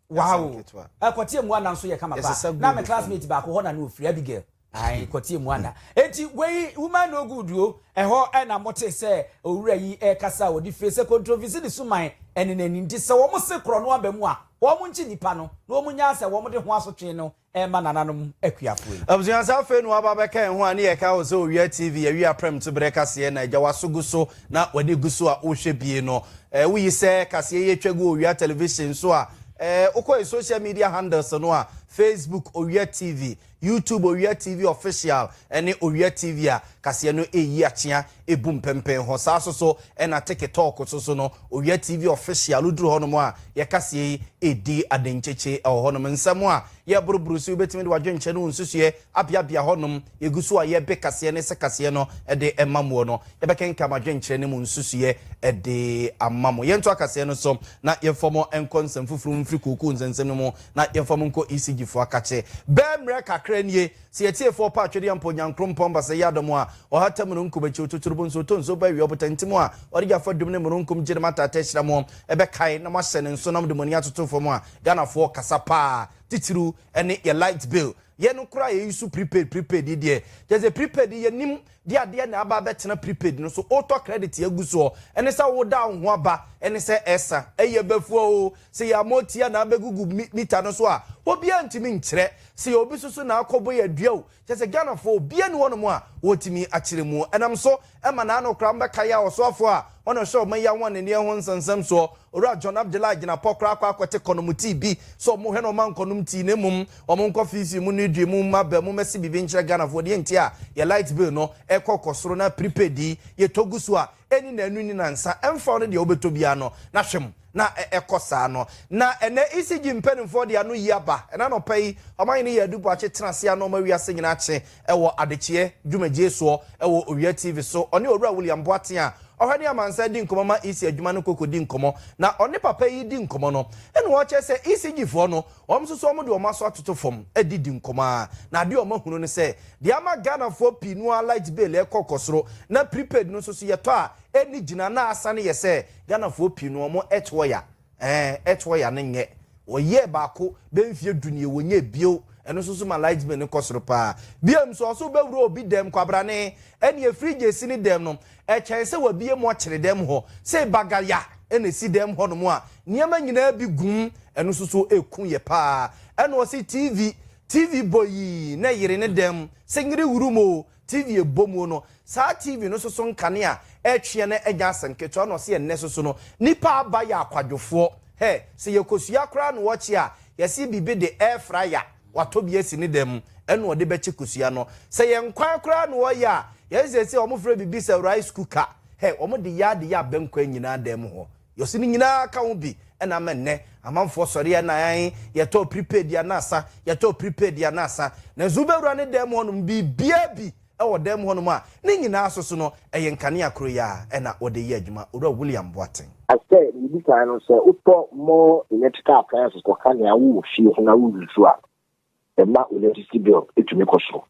Wow. Ɛkɔtie mu ana nso yɛ kama paa. Na me classmate baako hɔ na ne ofiri Abigail. Ayi kɔtie mu ana. Eti wei woman no good o. Ɛhɔ ɛna mote sɛ owura yi ɛkasa a ɔde fie sɛ controversy ne suman ɛne n'ani nti sɛ wɔn se korɔ no aba mu a wɔn nkye nipa no na wɔn nya asɛ wɔn de ho asotwe no Ɛremma nananom akuafoɔ yi. Abusua sɛ afei na waba abɛka yɛn ho a ne yɛ kae wo sɛ owia TV yɛwe aprɛmto berɛ kaseɛ na agya waso gu so na w'ani gu so a wohwɛ bie no eh wo yi sɛ kaseɛ yi atwa gu owia television so a eh wokɔ yɛ social media handles no a Facebook owia TV YouTube owia TV official ɛne owia TV a kaseɛ no ɛyi akyea Ebu mpempen hɔ. Saa so so na teke tɔɔko so so no, Owia TV Official, woduru hɔnom a, yɛ kaseɛ yi redi adenkyekye wɔ hɔnom. Nsɛm a yɛreboroboro so yi, wobɛtumi de w'adwenkyerɛ ne wo nsusuiɛ abeabea hɔnom. Yɛgu so a yɛrebe kaseɛ ne sɛ kaseɛ no de ma moɔ no, yɛbɛkenkan mo adwenkyerɛ ne mo nsusuiɛ de ama mo. Yɛntoa kaseɛ no so na yɛmfa mo nkɔ nsɛm foforɔ mu mfiri kookoo nsɛnsɛm no mu na yɛmfa mo nkɔ ECG foɔ akakye. Bɛɛ mmerɛ kakra nie. Sɛ y'atiefoɔ pɛ atwedeɛ ampa Onyankrompɔn basɛ yɛ adɔm a, ɔhata mununkum akyi, ɔtuturu bo nso, ɔtɔ nsuo ba awia ɔbotantimu a, ɔde gya fa dum ne mununkum gye ne m'ataata ahyira moɔ, ɛbɛkae na moahyɛ ne nsonam de moani atoto fam a, Ghanafoɔ kasa paa, titiriw ɛne yɛ light bill. Yɛ no koraa yɛyi so prepaid, prepaid yi deɛ, kyerɛ sɛ prepaid yi yɛnim de adeɛ na aba abɛtena prepaid no so wotɔ credit agu soɔ ɛne sɛ woda wo ho aba ɛne sɛ ɛsa ɛyɛ bɛfua oo sɛ yɛ ama ɔtia na abɛgugu meter no so a obiara ntumi nkyerɛ sɛ yɛ obi susu na akɔ bɔ yɛ adua o kyerɛ sɛ Ghana foɔ obiara ni hɔ nom a ɔtumi akyerɛ mu ɛnam so ɛma na ano kora mo bɛka yɛ a ɔsoafoɔ a ɔna ɔhyɛ ɔman yi ahoɔneneɛ ho nsɛnsɛm soɔ Owura John Abdullah Agyinapɔ koraa akɔ akɔte kɔnom tea bi sɛ ɔmo hwɛ na ɔma nkɔnom tea na mmom Ɔmo nkɔ fiifii mo no dwi mo mma bɛ mo mɛse biribi nkyerɛ Ghanafoɔ deɛ nti a yɛ light bill no kɔ kɔ soro na prepaid yi yɛ tɔ gu so a ɛni na ɛnu ni na nsa ɛmfa wo ne deɛ wobɛtɔ biara no na hwɛ mu na ɛkɔ saa no na ɛnɛ ECG mpaninfoɔ de ano yi aba ɛnɛ anɔpa yi Ɔmanhene Yaa Adu Boakye tena aseɛ ano ɔma wiase nyinaa kye ɛwɔ adekyeɛ dwumadie soɔ ɛwɔ Owia TV so ɔne Owura William Boateng a ɔhwɛ ne amansan adi nkɔmɔ ma EC adwuma no kɔ kɔdi nkɔmɔ na ɔne papa yi di nkɔmɔ no ɛna ɔkyerɛ sɛ ECG foɔ no Wɔn nso so wɔde wɔn aso atoto fam de di nkɔmmɔ ara, na adeɛ a wɔahunu ne sɛ, deɛ ama Ghanafoɔ pii no ara light bill rekɔ kɔ soro, na prepaid no nso so yɛtɔ a ɛnni gyina, na asane yɛ sɛ Ghanafoɔ pii no wɔn earth wire, ɛɛ, earth wire no nyɛ, wɔyɛɛ baako bɛyɛ mfeɛ du nie, wɔnyɛɛ bio, ɛno nso so ma light bill no kɔ soro pa ara. Biom nso, ɔse wobɛwura obi dɛm, kwabrane, ɛneɛ fridge a ɛsi ne dɛm no, ɛkyɛn sɛ wabue mu ɔkyere dɛm hɔ, sei bagaya na ɛsi dɛm hɔ nom a, nneɛma nyinaa bi gum, ɛno nso so ɛku yɛ paa. Ɛna ɔse TV, TV bɔ yii na ɛyere ne dɛm, sɛ nyere wuru mu o, TV ɛbɔ mu o no, saa TV no nso so nkanea ɛtweɛ no ɛnyɛ asɛm ketewa, ɛna ɔse ɛnnɛ nso so no, nnipa aba yɛ akwadwofoɔ, hɛ, sɛ yɛkɔsua koraa na wɔkye a, yɛse biribi de air fryer, watɔ bi asi ne dan mu ɛna ɔde bɛkye kosua no sɛ yɛn kwan koraa na ɔyɛ a yɛn sɛsɛ wɔn frɛ bibi sɛ rice cooker hɛ wɔn de yɛ ade yɛ abɛn kwan nyinaa dan mu hɔ yɔsi ne nyinaa ka ho bi ɛna ama nnɛ amanfoɔ sɔre yɛ na yɛn yɛtɔ prepaid yɛ anasa yɛtɔ prepaid yɛ anasa nanso wobɛwura ne dan mu hɔ nom biribiara bi wɔ dan mu hɔnom a ne nyinaa soso no, ɛyɛ nkanea koro yi ara na wɔde yɛ adwuma, Owura William Boateng. Sɛ biribi kan no, sɛ wotɔ more electrical appliances kɔka nea wowɔ fie ho na wo use a, ɛma wo electricity bill tumi kɔ soro.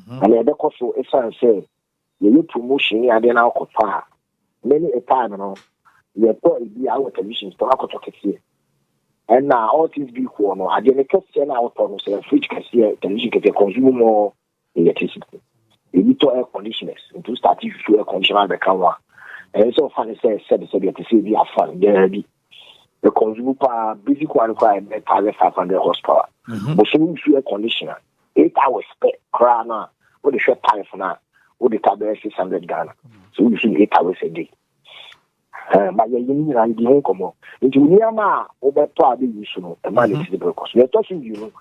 Na nea ɛbɛkɔ so esiane sɛ yɛyɛ promotion ne adeɛ na wokɔtɔ a, many a time no, yɛtɔ ebi a wowɔ television store no akɔtɔ kɛseɛ. Ɛna all things be equal no, adeɛ no kɛseɛ no a wotɔ no, sɛ fridge kɛseɛ, television kɛseɛ, consume more electricity. Ebi tɔ air conditioners, nti wo start susu air conditioner abɛka ho a, ɛyɛ sɛ ɔfa ne sɛ sɛbesɛbe ɛte sɛ ebi afan biara bi. Ɛconsume paa, basic one koraa ɛbɛ 1500 horsepower. Mhm. Bosome wusu air conditioner, 8 hours pɛ koraa no a, wode hwɛ tariff no a, wode ta bɛyɛ 600 Ghana. So wusu 8 hours a day. Eh, ma yɛyɛ ne nyinaa yɛdi ho nkɔmmɔ nti nneɛma a wobɛtɔ a bɛyi so no ɛma ne mhm. tiri bere kɔ so yɛtɔ so mmienu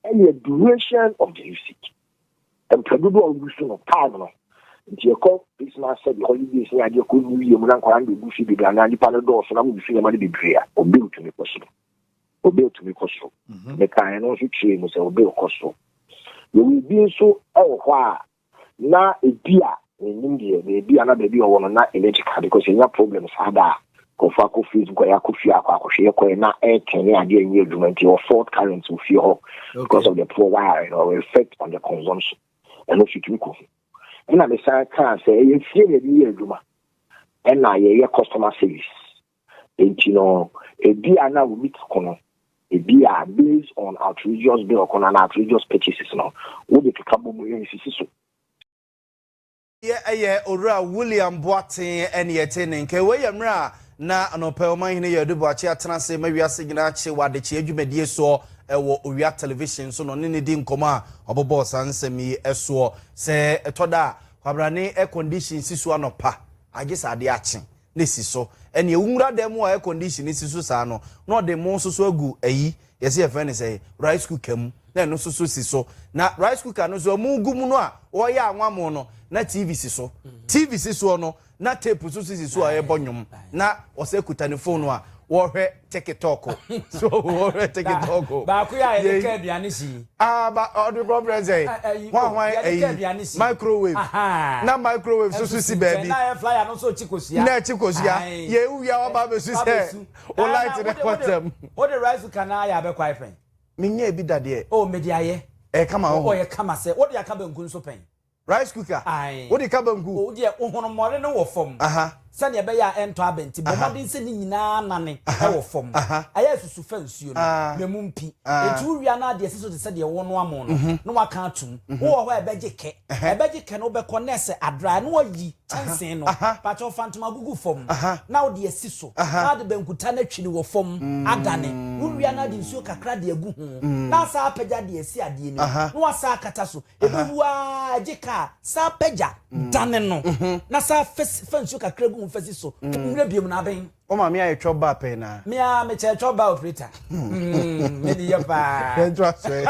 ɛyɛ duration of the usage mprɛdodo a wogu so no time no nti ɛkɔ christmas sɛ de holidays ne adeɛ kɔ new year mu na nkwadaa no bɛgu fi bebree anaa nnipa no dɔɔso na mogu so nneɛma no bebree a obi ntumi kɔ so obi ntumi kɔ so mhm. mekaeɛ no nso kyerɛɛ mu sɛ obi kɔ so yɛwɔ bi nso wɔ hɔ a na ebia mennim deɛ baabi a na baabi a ɔwɔ no na energy ka because yɛnya problem saa da a nkurɔfoɔ akɔ facebook a yɛakɔ fie akɔ akɔhwɛ yɛkɔɛ na ɛretɛn ne adeɛ nyɛ adwuma nti ɛwɔ fault current wɔ fie hɔ because of the poor wire no ɔwɔ effect on the consumption ɛno so tumi kɔ ɛna mesan kaa sɛ ɛyɛ fie na ɛde yɛ adwuma ɛna yɛyɛ customer service Enti no, ebia na wo meat ko no, ebia based on outrageous bill ko no anaa outrageous purchases no, wode keka bɔ mu nsisi so. Yɛ ɛyɛ Owura William Boateng ne yɛte ne nka. Wei yɛ mmerɛ a na Anɔpɛ Ɔmanhene Yew Adu Boakye atena ase ma wiase nyinaa kye wɔ adekyeɛ dwumadie soɔ wɔ Owia Television so na ɔne no di nkɔmmɔ a ɔbobɔɔ saa nsɛm yi soɔ. Sɛ ɛtɔ da a, kwabrane air condition si so anɔpa a gye sɛ adeɛ akye. no si so. Ɛnneɛ wo nwura dan mu a air condition si so saa no, na ɔde mo nso so agu ayi, yɛse yɛfrɛ no sɛn, rice cooker mu, na ɛno nso so si so. Na rice cooker no nso a mogu mu no a wɔreyɛ anwammo no, na TV si so. TV si soɔ no, na tape nso so si so a ɛrebɔ nnwom. Na ɔsɛ kuta ne fon a ɔrehwɛ. tikitɔko so wɔhwɛ tikitɔko baako yɛ a yɛde ka aduane si aa ba ɔde kɔ brɛ sɛ hwan hwan ayi microwave na microwave so so si baabi na ɛyɛ flyer no so kyi kosia na ɛkyi kosia yɛ ewia waba abɛsu sɛ o light ne kɔtɛm o de rice cooker na ayɛ abɛkɔ ayɛ pɛn menyɛ ebi dadeɛ o mede ayɛ ɛyɛ kama o ɔyɛ kama sɛ o de aka bɛnku nso pɛn Rice cooker, Ae. Wode ka banku. O deɛ honommɔre no wɔ fam. Aha. Sɛdeɛ ɛbɛyɛ a ɛntɔ aba nti, bɔ Aha. mmɔden sɛ ne nyinaa nane Aha. wɔ fam. Aha. Ayɛ asusu fa nsuo no, Aa. na mu mpi. Aa. Enti wowia no a, de asi so te sɛ deɛ wonoa mo no, na woaka atom. Wowɔ hɔ a ɛbɛgye kɛ. Ɛhɛ. Ɛbɛgye kɛ na wobɛkɔ na ɛsɛ adry na woayi kyɛnsee no. Aha. Pakyɛ wo fa ntoma gugu fam Aha. na wode asi so Aha. na wode bankuta no atwiri wɔ fam adane. Wowia no a, de nsuo kakra de agu ho na asan apagya de asi adeɛ no mu Aha. na woasan akata so. Ɛbɛwu ara gye kaa san pagya dane no na san fa nsuo kakra gu mu fa si so mmerɛ biom na abɛn. Wo maame ayɛ twɔ ba pɛn na. Me a me kyɛ twɔ ba operator. Hmm, me ni yɛ paa. Yɛn to aso ɛ.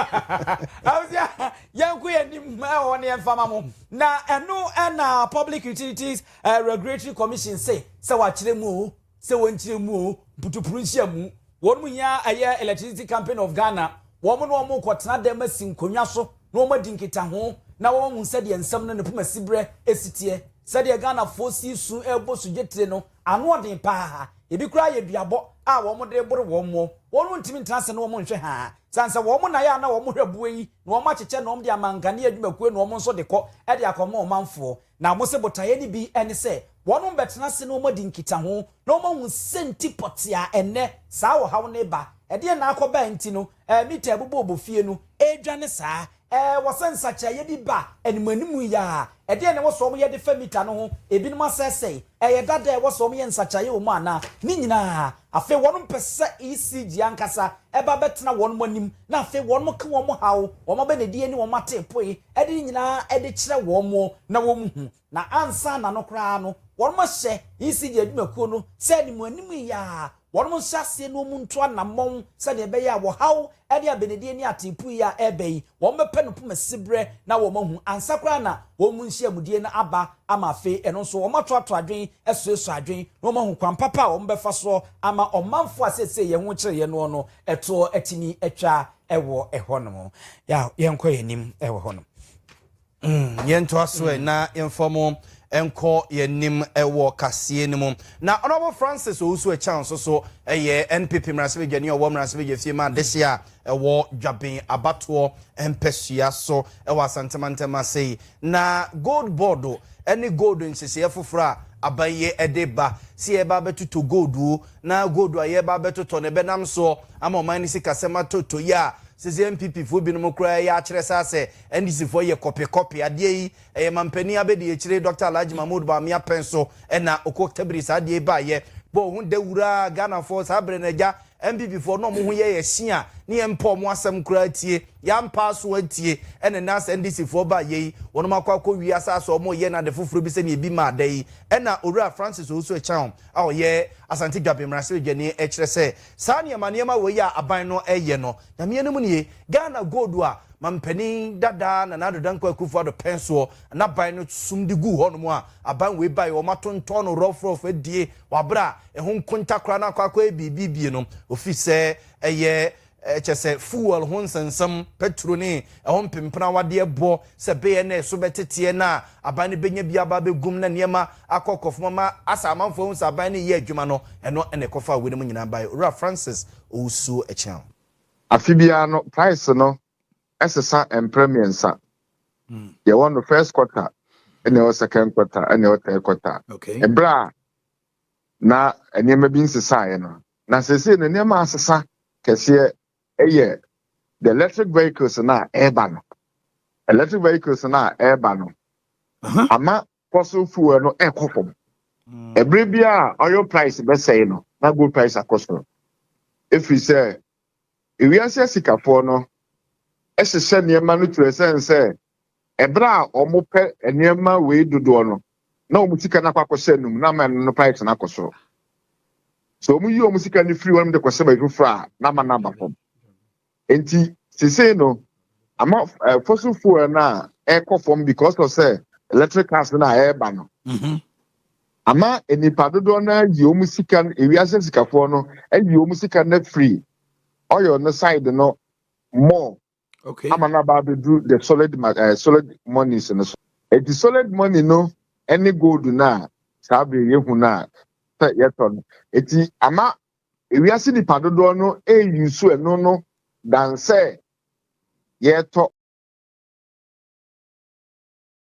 Awusia yɛn ko yɛn nim ɛwɔ ne yɛn fama mo. Na ɛno ɛna Public Utilities eh, Regulatory Commission se sɛ wakyerɛ mu o. sɛ wɔn nkyerɛ mu o, mputupuru nhyia mu, wɔn mu hia ɛyɛ Electricity Company of Ghana, wɔn ne wɔn kɔ tena dɛm asi nkonnwa so na wɔn adi nkitaho na wɔn ahu sɛdeɛ nsɛm no ne poma siberɛ ɛsi teɛ. Sɛdeɛ Ghanafoɔ si resu rebɔ sugye tire no, ano ɔden pa ara, ɛbi koraa yɛ duabɔ a wɔn de reboro wɔn mo, wɔn ntumi ntena ase na wɔn nhwɛ haa, sane sɛ wɔn na ɛyɛ a na wɔn hwɛ boɔ yi na wɔn akyekyɛ na wɔn de ama nkanea adwumakuo na wɔn nso de kɔ de akɔma ɔmanfoɔ. Na wɔse botaeɛ no bi ne sɛ wɔnom bɛtena ase na wɔadi nkitaho na wɔahu sɛnti pɔtee a ɛnnɛ saa ɔhaw no reba, ɛdeɛn na akɔba a nti no mita ɛbobɔɔbɔ fie no ɛredwane saa. Ɛwɔ sɛ nsakyeraeɛ bi ba animuanimu yi ara. Ɛdeɛn na ɛwɔ sɛ wɔyɛ de fa mita no ho? Ebinom asɛesɛe? Ɛyɛ dada a ɛwɔ sɛ wɔyɛ nsakyeraeɛ wɔ mu anaa? Ne nyinaa afei wɔnom pɛ sɛ ECG ankasa ɛba bɛtena wɔnom anim na afei wɔnom ka wɔn haw, wɔn abɛnadie ne wɔn ateepoe de ne nyinaa de kyerɛ wɔn na wɔhu, na ansa na no koraa no, wɔahyɛ ECD adwumakuo no sɛ anim anim yi ara wɔnhyɛ aseɛ na wɔntu anammɔn sɛdeɛ ɛbɛyɛ a wɔhaw ne abenedie ne ateepu yi a ɛreba yi, wɔbɛpɛ no poma siberɛ na wɔahu ansa koraa na wɔn nhyiamudie no aba ama afei ɛno nso wɔatoato adwene asuasua adwene na wɔahu kwan papa a wɔbɛfa soɔ ama ɔmanfoɔ a seesei yɛn ho kyere yɛn noɔ no toɔ atumi atwa ɛwɔ ɛhɔ nom ya yɛnkɔ yɛn anim ɛwɔ hɔ nom. Mm, yɛntoa so ɛ mm. na yɛmfa mu nkɔ yɛnim wɔ kaseɛ no mu na ɔnɔbo francis owusu ɛkyɛn nso so ɛyɛ npp mmaransɛbadwani ɔwɔ mmaransɛbadwa fie ma adehye a ɛwɔ dwaben abatoɔ mpɛsua so ɛwɔ asantemantam ase yi Na gold board ne gold nhyehyɛɛ foforɔ a aban yi de ba, sɛ yɛreba abɛtotɔ gold o, na gold a yɛreba abɛtotɔ no ɛbɛnam soɔ ama ɔman no sikasɛm atɔ tɔ yi a, seesei NPP foɔ binom koraa reyɛ akyerɛ saa sɛ NDC foɔ yɛ kɔpe kɔpe. Adeɛ yi, ɛyɛ manpanin abɛdiakyire Dɔkta Alhaji Mahmood Bawumia pɛn so na Okwoktabiri saa adeɛ yi baeɛ. Bɔ wo ho dawuraa Ghanafoɔ, saa berɛ no agya, MPPfoɔ na wɔn ho yɛ yɛ hye a ne yɛn mpɛ wɔn asɛm koraa tie, yɛampa aso antie, ɛna nnɛ asɛ NDCfoɔ ba yɛ yi, wɔnom akɔ akɔ wie asaase a wɔreyɛ no ade foforɔ bi sɛdeɛ ebi maa da yi, ɛna Owura Francis Owusu-Acheaum a ɔyɛ Asante Dwaben Mmarahyɛbadwani ɛkyerɛ sɛ saa nneɛma nneɛma wei a aban no ɛreyɛ no, Nyame anim nie, Ghana Gold a Mampanin dada Nana Addo Dankwa Akufo-Addo pɛn soɔ na aban no sum de guu hɔnom a aban wei baeɛ wɔatontɔn no rɔfrɔf adie wɔ aberɛ a Ɛho nkonta koraa na akɔ akɔyɛ biribi bie no, ofi sɛ ɛyɛ kyɛ sɛ fuel ho nsɛnsɛm, pɛtro ne ɛho mpempenawadeɛ bɔ sɛ bɛyɛ na ɛso bɛteteɛ na aban no bɛnya bi aba abɛgum na nneɛma akɔ kɔfam ama asɛ amanfoɔ ahu sɛ aban no reyɛ adwuma no, ɛno na ɛkɔfaa wei no mu nyinaa baeɛ. Owura Francis Owusuo Akyeaw. Afe biara no, price no sesa mprɛ mmiɛnsa. Yɛwɔ no first quarter, ɛna ɛwɔ second quarter, ɛna ɛwɔ third quarter. Bere a na nneɛma bi nsesaeɛ no na seesei no nneɛma asesa kɛseɛ ɛyɛ the electric vehicles no a ɛreba no electric vehicles no a ɛreba no ama fossil fuel no ɛkɔ fam ɛbere mm. bi a oil price bɛsɛe no na gold price akɔ soro ɛfiri sɛ Wiase asikafoɔ no hyehyɛ nneɛma no twerɛ sɛn sɛ ɛberɛ a wɔpɛ nneɛma wei dodoɔ no na wɔn sika no akɔ akɔhyɛ anum na ama ɛno no pipes no akɔ soro sɛ wɔn yi wɔn sika no firi hɔ nom de kɔhyɛ baabi foforɔ a na ama no aba fam nti sesei no ama uh, fossil fuel no a ɛkɔ fam because of sɛ electric cars no a ɛreba no mm-hmm. Ama nnipa dodoɔ no ara ayi wɔn sika no, ewiase sikafoɔ no ayi wɔn sika no afiri oil no side no more Okay. ama no aba abɛduru the solid ma- eh, solid monies no so. Eti solid money no ne gold no a saa bere yi yɛhu no a sɛ yɛtɔ no. Eti ama ewiase nipa dodoɔ no eyi so ɛno no dan sɛ yɛtɔ.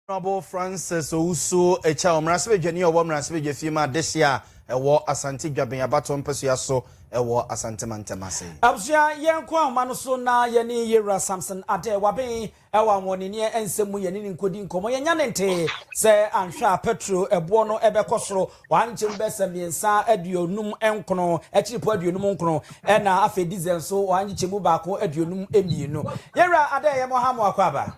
Honourable Francis Owusu Akyao, Mmarahyɛbadwani a ɔwɔ Mmarahyɛbadwafie mu adehye a ɛwɔ Asante Dwaben abatoɔ mpasua so wɔ Asante mantam ase. Abusua, yɛnkɔ ahoma no so na yɛne Yewura Samson Adeh Waben wɔ ahoɔdenneɛ nsɛm mu yɛne no nkɔdi nkɔmmɔ. Yɛnnya no ntee sɛ anhwɛ a pɛtro boɔ no bɛkɔ soro Wɔankye mbɛsa miɛnsa aduonum nkron, ekyir po aduonum nkron, na afei diesel so wɔanngye kyɛmu baako aduonum emienu. Yɛn Wura, adɛn yɛ mo ha mo akɔaba?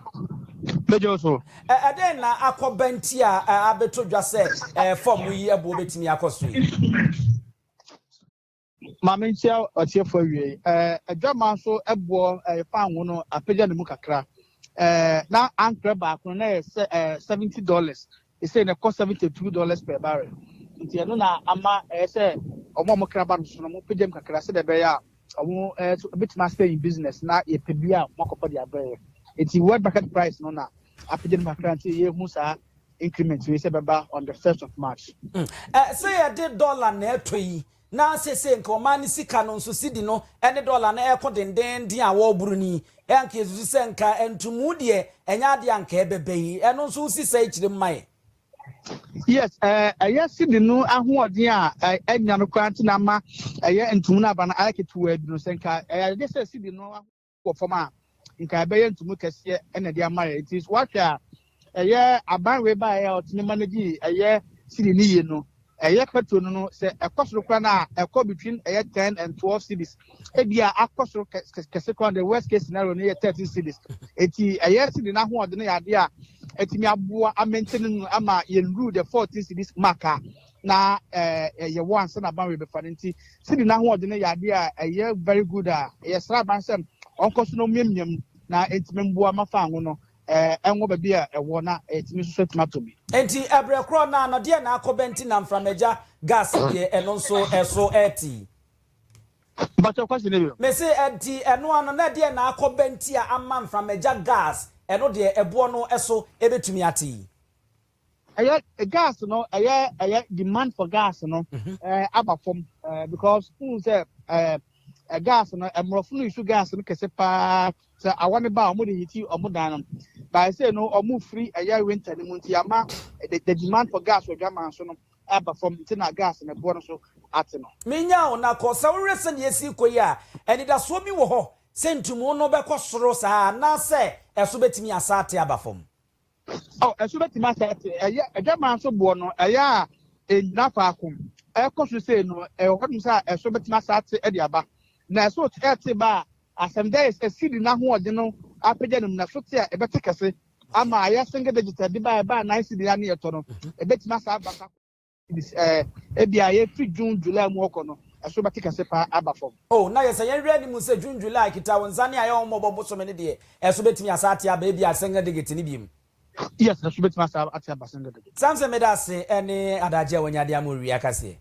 Bɛgyaw so. Ɛ, ɛdɛn na akɔba nti a ɛ, abeto dwa sɛ ɛ, fam yi buo betumi akɔ so yi? Ma menkyia ɔtiefo awiei. Ɛɛ, adwammaa nso boɔ ɛɛ, fan ho no apagya ne mu kakra. Ɛɛ, na ankorɛ baako no na ɛyɛ sɛ ɛɛ, seventy dollars. Ɛsɛ na ɛkɔ seventy two dollars per barrel. Nti ɛno na ama ɛyɛ sɛ wɔn a wɔkra ba no so no, wɔpagya mu kakra sɛdeɛ ɛbɛyɛ a wɔn ɛɛ, nso ɛbɛtumi asɛ in business na yɛpɛ bi a wɔakɔfa de abrɛ yɛn. Nti world market price no na apagya mu kakra nti yɛhu saa increment wei sɛ ɛbɛba on the first of March. Mm. Eh, sɛ yɛde dollar na ɛtɔ yi na seesei nka ɔman no sika no nso sidi no ne dɔla no reko dendeenden a wɔreboro no yi, anka yɛsusu sɛ nka ntumu deɛ ɛnyɛ adeɛ a nka ɛbɛba yi. Ɛno nso wosi saa akyire mu ma yɛn. Yes, eh, ɛyɛ sidi no ahoɔden a ɛnya no koraa nti na ama ɛyɛ ntumu no aba no ayɛ ketewaa bi no, sɛ nka ɛyɛ adeɛ sɛ sidi no wɔ fam a, nka ɛbɛyɛ ntumu kɛseɛ na ɛde ama yɛ. Nti woahwɛ a, ɛyɛ aban wei baeɛ a ɔtumi manage ɛyɛ siri ne yie no, ɛyɛ petrol no no, sɛ ɛkɔ soro koraa no a, ɛkɔ between ɛyɛ ten and twelve cities. Ebi a akɔ soro kɛse koraa the worst case scenario no yɛ thirteen cities. Eti ɛyɛ siri no ahoɔden yɛ adeɛ a ɛtumi aboa amɛntene no ama yɛn rule the fourteen cities mark a na ɛɛ ɛyɛ wo ansa na aban rebɛfa no nti sidi n'ahoɔden no yɛ adeɛ a ɛyɛ very good a yɛsrɛ aban sɛ ɔnkɔ so na ɔmiamia mu na ɛtumi mmoa ma fan ho no ɛɛ ɛnwɔ baabi a ɛwɔ na ɛtumi nso so atumi atɔ bi. Enti ɛbrɛ korɔ no ara no deɛ na akɔba nti na mframagya gas deɛ ɛno nso ɛso ɛɛte. Mpakyɛw question no bio. Mese ɛnti ɛno ara no na ɛdeɛ na akɔba nti a ama mframagya gas ɛno deɛ ɛboɔ no ɛso ɛbɛtumi ate. ɛyɛ gas no ɛyɛ ɛyɛ demand for gas no mhm. ɛɛ aba fam ɛɛ because n sɛ ɛɛ ɛ gas no ɛmorɔfo no nsu gas no kɛse paa sɛ awa ne ba a wɔn de hiti wɔn dan no baa sɛ no wɔn firi ɛyɛ winter no mu nti ama the the demand for gas wɔ dwaman so no aba fam nti na gas no ɛboɔ no so ate no. menya wo nakɔ sɛ wohwɛ sɛ nea esi kɔ yi a anidasoɔ bi wɔ hɔ sɛ ntumu no bɛkɔ soro saa anaasɛ ɛso bɛtumi asa ate aba fam. Oh, ɛso bɛtumi asɛ te ɛyɛ adwaman nso boɔ no ɛyɛ a ɛnyina faako ɛkɔ so sei no ɛwɔ hɔnom sɛ a ɛso bɛtumi asa te ɛde aba na ɛso te ɛte ba a asɛm dɛ ɛsi di n'ahoɔden no apagya no mu na ɛso te a ɛbɛte kɛse ama ayɛ single digital de ba ɛba a nan si de ya ne yɛtɔ no ɛbɛtumi asa aba sa Ebia yɛfiri June, July mu rekɔ no, ɛso bɛte kɛse paa aba fam. Oh, na yɛ sɛ yɛn werɛ nni mu sɛ June, July, Kita Wo Nsa ne Ayɛwommɔbɔ bosome no deɛ, ɛso bɛtumi asan ate aba ebia Sengedegete no biom. Yes, ɛso bɛtumi asan ate aba Sengedegete. Samson meda ase ɛne adagye a wanya de ama owie akaseɛ.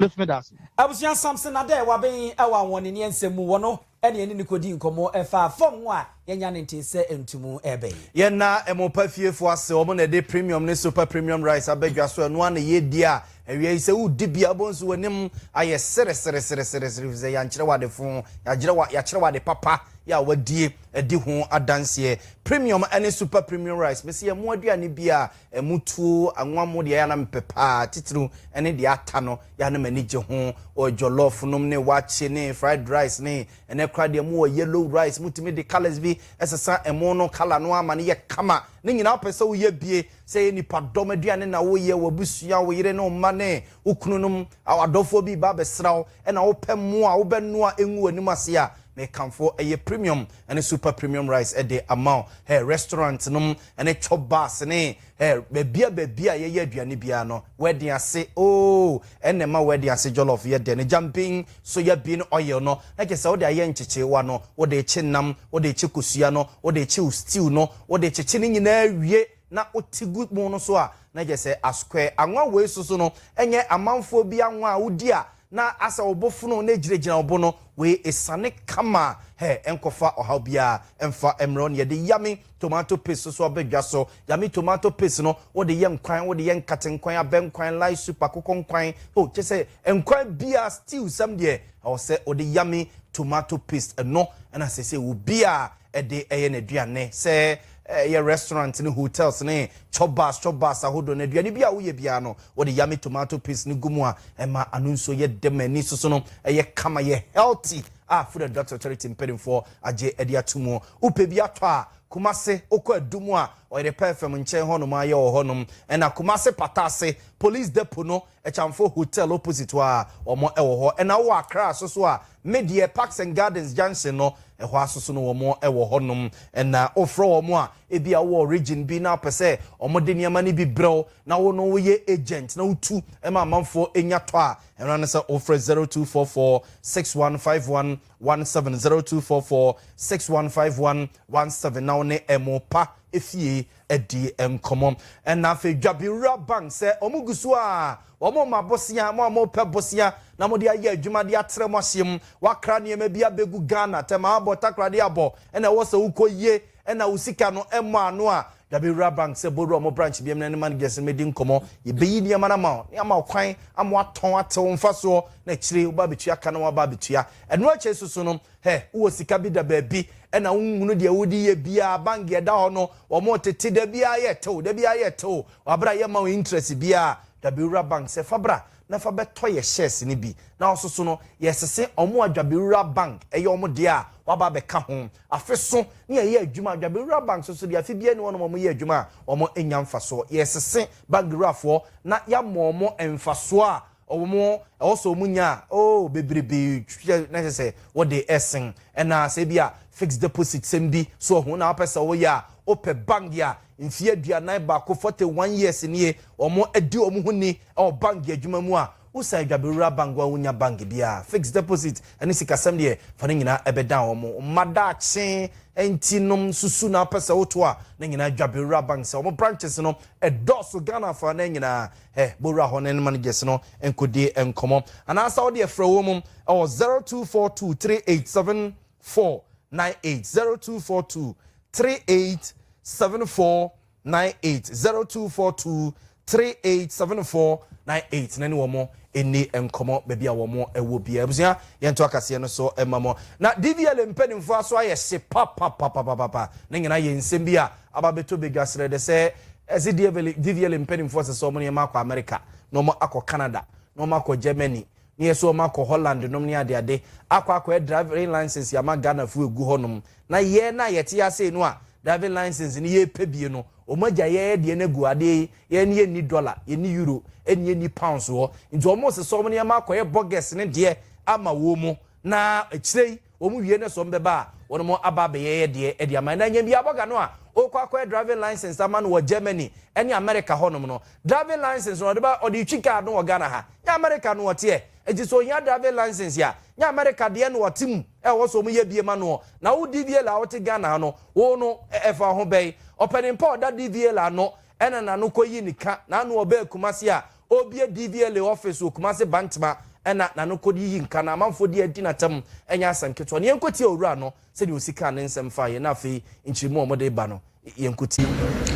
Mesi meda ase. Abusua Samson Adeh Wabeng ɛwɔ Anwɔneneɛ nsɛm mu wɔ no ɛna yɛne no kɔdii nkɔmmɔ faa fam ho a yɛanya ne ntee sɛ ntumu reba yi. Yɛn na Ɛmopa fiefoɔ ase, wɔn na ɛde Premium ne Super Premium Rice aba dwa so, ɛno ara na yɛredi a awia yi sɛ woredi bi a wobɛhu nso w'anim ayɛ sereseresereseresere ɛfiri sɛ yɛankyerɛ wo ade fo, yɛagyerɛ wo, yɛakyerɛ wo ade papa yɛ a woadie adi ho adanseɛ. Premium ne Super Premium Rice, mese yɛn mo aduane biara Ɛmu tuo anwa mo deɛ ɛyɛ a na mepɛ paa titiriw ne deɛ ata no, yɛ a na m'ani gye ho. Wɔ jollof nom ne wakye ne fried rice ne ɛnnɛ koraa deɛ mowɔ yellow rice, motumi de colours bi sesa ɛmo no colour no ara ma no yɛ kama. Ne nyinaa wopɛ sɛ woyɛ bie, sɛ ɛyɛ nnipadɔm aduane na woyɛ, w'abusua, wo yere ne wo mma ne wo kununom, w'adɔfoɔ bi reba abɛsra wo na wopɛ mo a wobɛnoa ngu w'anim ase a, mekamfo ɛyɛ premium ne super premium rice de ama wo. Hɛ restaurant nom ne tour bus ne eh, bɛbia bɛbia yɛyɛ aduane biara no, wɛden ase ooh, ɛna ɛma wɛden ase jollof yɛ dɛ no, gyambin, soya bean oil no, na kyerɛ sɛ wode ayɛ nkyekyeewa no, wode rekye nam, wode rekye kosua no, wode rekye wo stew no, wode rekyekye ne nyinaa awie na wote gu pono no so a, na kyerɛ sɛ asquare. Anwa wei soso no, ɛnyɛ amanfoɔ bi anwa a wodi a Na asɛ wo bo fono na egyinagyina wo bo no, wei esiane kama a, hɛ, ɛnkɔfa ɔhaw biara mfa mmrɛ wo. Neɛ de yummy tomato paste soso abɛ dwa so. Yummy tomato paste no, wo de yɛ nkwan, wo de yɛ nkate nkwan, abɛ nkwan, lye soup, akokɔ nkwan, oh, kyerɛ sɛ nkwan biara, stew, sɛm deɛ, ɛwɔ sɛ wo de yummy tomato paste. Ɛno na sɛsɛ obiara de yɛ n'aduane, sɛ ɛyɛ restaurant ne hotels ne chop bars chop bars ahodoɔ no, aduane bi a woyɛ biara no, wode yummy tomato paste no gu mu a, ɛma ano nsuo yɛ dɛ ma ani soso no yɛ kama, yɛ healthy a Food and Drugs Authority mpanimfoɔ agye de ato mu. Wopɛ bi atɔ a, Kumasi, wokɔ Adu mu a, Ɔyere Pɛɛfɛm nkyɛn hɔnom ara yɛwɔ hɔnom, ɛnna Kumasi Pata Ase, Police Depot no Ɛkyamfo Hotel opposite hɔ a wɔn wɔ hɔ. Ɛna wowɔ Accra asoso a, me deɛ Parks and Gardens junction no, ɛhɔ asoso no wɔn wɔ hɔ nom. Ɛna wofrɛ wɔn a, ebia wowɔ region bi na wopɛ sɛ wɔn de nneɛma no bi brɛ wo na wo no woyɛ agent na wotu ma amanfoɔ nya tɔ a, ɛno ara ne sɛ wofrɛ zero two four four six one five one one seven, zero two four four six one five one one seven, na wo ne ɛmo pa fie. dii nkɔmmɔ. Ɛnna afei dwabewura bang sɛ wɔgu so a wɔrema bosea, mo a mopɛ bosea na mode ayɛ adwuma de atra mo ahyeɛ mu, wɔakra nneɛma bi abɛgu Ghana, tɛm abɔ, takoradi abɔ, ɛnna ɛwɔ sɛ wokɔyie, ɛnna wo sika no mmɔ ano a, dwabewura bang sɛ bɔwura mo branch biam na ne managers no mmɛdi nkɔmmɔ. Yɛbɛyi nneɛma no ama wo na yɛama wo kwan ama woatɔn ate wo mfasoɔ, na akyire wobɛba abɛtua ka na woaba abɛtua ɛno akyire nso so no, Hɛ, wowɔ sika bi da baabi ɛna wonhunu deɛ wode yɛ biaa, bank deɛ ɛda hɔ no wɔn tete da biaa yɛ tew, da biaa yɛ tew, wabrɛ a yɛ mma wo interest biaa, dwabewura bank sɛ fa bra na fa bɛ tɔ yɛ shares no bi na wo soso no yɛ sese wɔn a dwabewura bank ɛyɛ wɔn deɛ a waba abɛ ka ho afe so ne yɛ yɛ adwuma dwabewura bank soso deɛ afe biaa ni hɔ nom wɔn yɛ adwuma a wɔn nya mfasoɔ yɛ sese bank wurafoɔ na yɛ ama wɔn mfasoɔ a Wɔn mu, ɛwɔ sɛ wɔn nya a oh bebrebe kyɛ na ɛsɛ sɛ wɔde ɛsen. Ɛna sɛ ebi a fixed deposit sɛm bi so wɔ ho na wɔpɛ sɛ wɔyɛ a, wopɛ bank a mfie aduanan baako, forty one years, nie wɔn adi wɔn ho ni wɔ bank adwuma mu a, wosan adwabewura bank hɔ a wonnya bank biara fixed deposit ɛne sikasɛm deɛ fa ne nyinaa ɛbɛdan wɔn mma daakye nti nom susu na wopɛ sɛ woto a ne nyinaa adwabewura bank sɛ wɔn branches no ɛdɔɔso Ghana afanan nyinaa Hɛ bɔ wura hɔ na ne managers no nkɔdi nkɔmmɔ. Anaasa wo deɛ frɛ wɔn wɔ 0242 387498, 0242 387498, 0242 387498 na ne wɔn ɛni nkɔmmɔ baabi a wɔn ɛwɔ bia. Abusua yɛnto akaseɛ no so ɛma mo. Na DVLA mpanimfoɔ aso ayɛ hye papapapapapa. Ne nyinaa yɛ nsɛm bi a Aba abɛtɔ badwa serɛ dɛ sɛ ɛdze Dievely Diviely mpanimfoɔ sɛ sɛ ɔmo ne yɛn akɔ America, na ɔmo akɔ Canada, na ɔmo akɔ Germany, ne yɛ so ɔmo akɔ Holland nom ne ade ade akɔ akɔɛ driving license ama Ghana foɔ egu hɔ nom, na yɛɛ no a yɛte ha sei no a driving license no yɛɛ pɛ bie no, ɔmo agya yɛɛ deɛ no agu adeɛ yi yɛɛ no yɛ nni dollar, yɛ nni euro, ɛne yɛ nni pounds wɔ hɔ, nti ɔmo se sɛ ɔmo ne yɛn akɔyɛ bɔgɛs ne deɛ ama wɔn mo, na akyire yi. Wɔn wie na sɛ wɔn bɛba a, wɔn mo aba abɛyɛ yɛ deɛ ɛde ama. Na nya bi abɔga no a, ɔrekɔ akɔyɛ driving license ama no wɔ Germany ɛne America hɔ nom no. Driving license no ɔde ba, ɔde retwi car no wɔ Ghana ha. Nyɛ America no ɔteɛ. Nti sɛ ɔhia driving license a, nyɛ America deɛ no ɔte mu a ɛwɔ sɛ wɔn yɛ bie ma noɔ. Na wo DVL a wote Ghana ha no, wo no ɛfa wo ho bɛn? Ɔpɛnimpɔ a ɔda DVL ano ɛna na no kɔ yi ne ka, na ano ɔbɛɛ Kumasi a, Ɔrebue DVLA office wɔ Kumasi Bantama na n'anokodi yi nka na amanfoɔ di adi n'atam nyɛ asɛm ketewa no. Yɛnkɔtie owura no sɛdeɛ ɔsi kaa ne nsɛm faeɛ na afei nkyerɛmu a wɔde reba no yɛnkɔtie.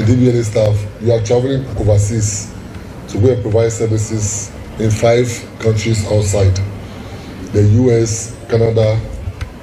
DVLA staff, you are travelling overseas to go and provide services in five countries outside the US, Canada,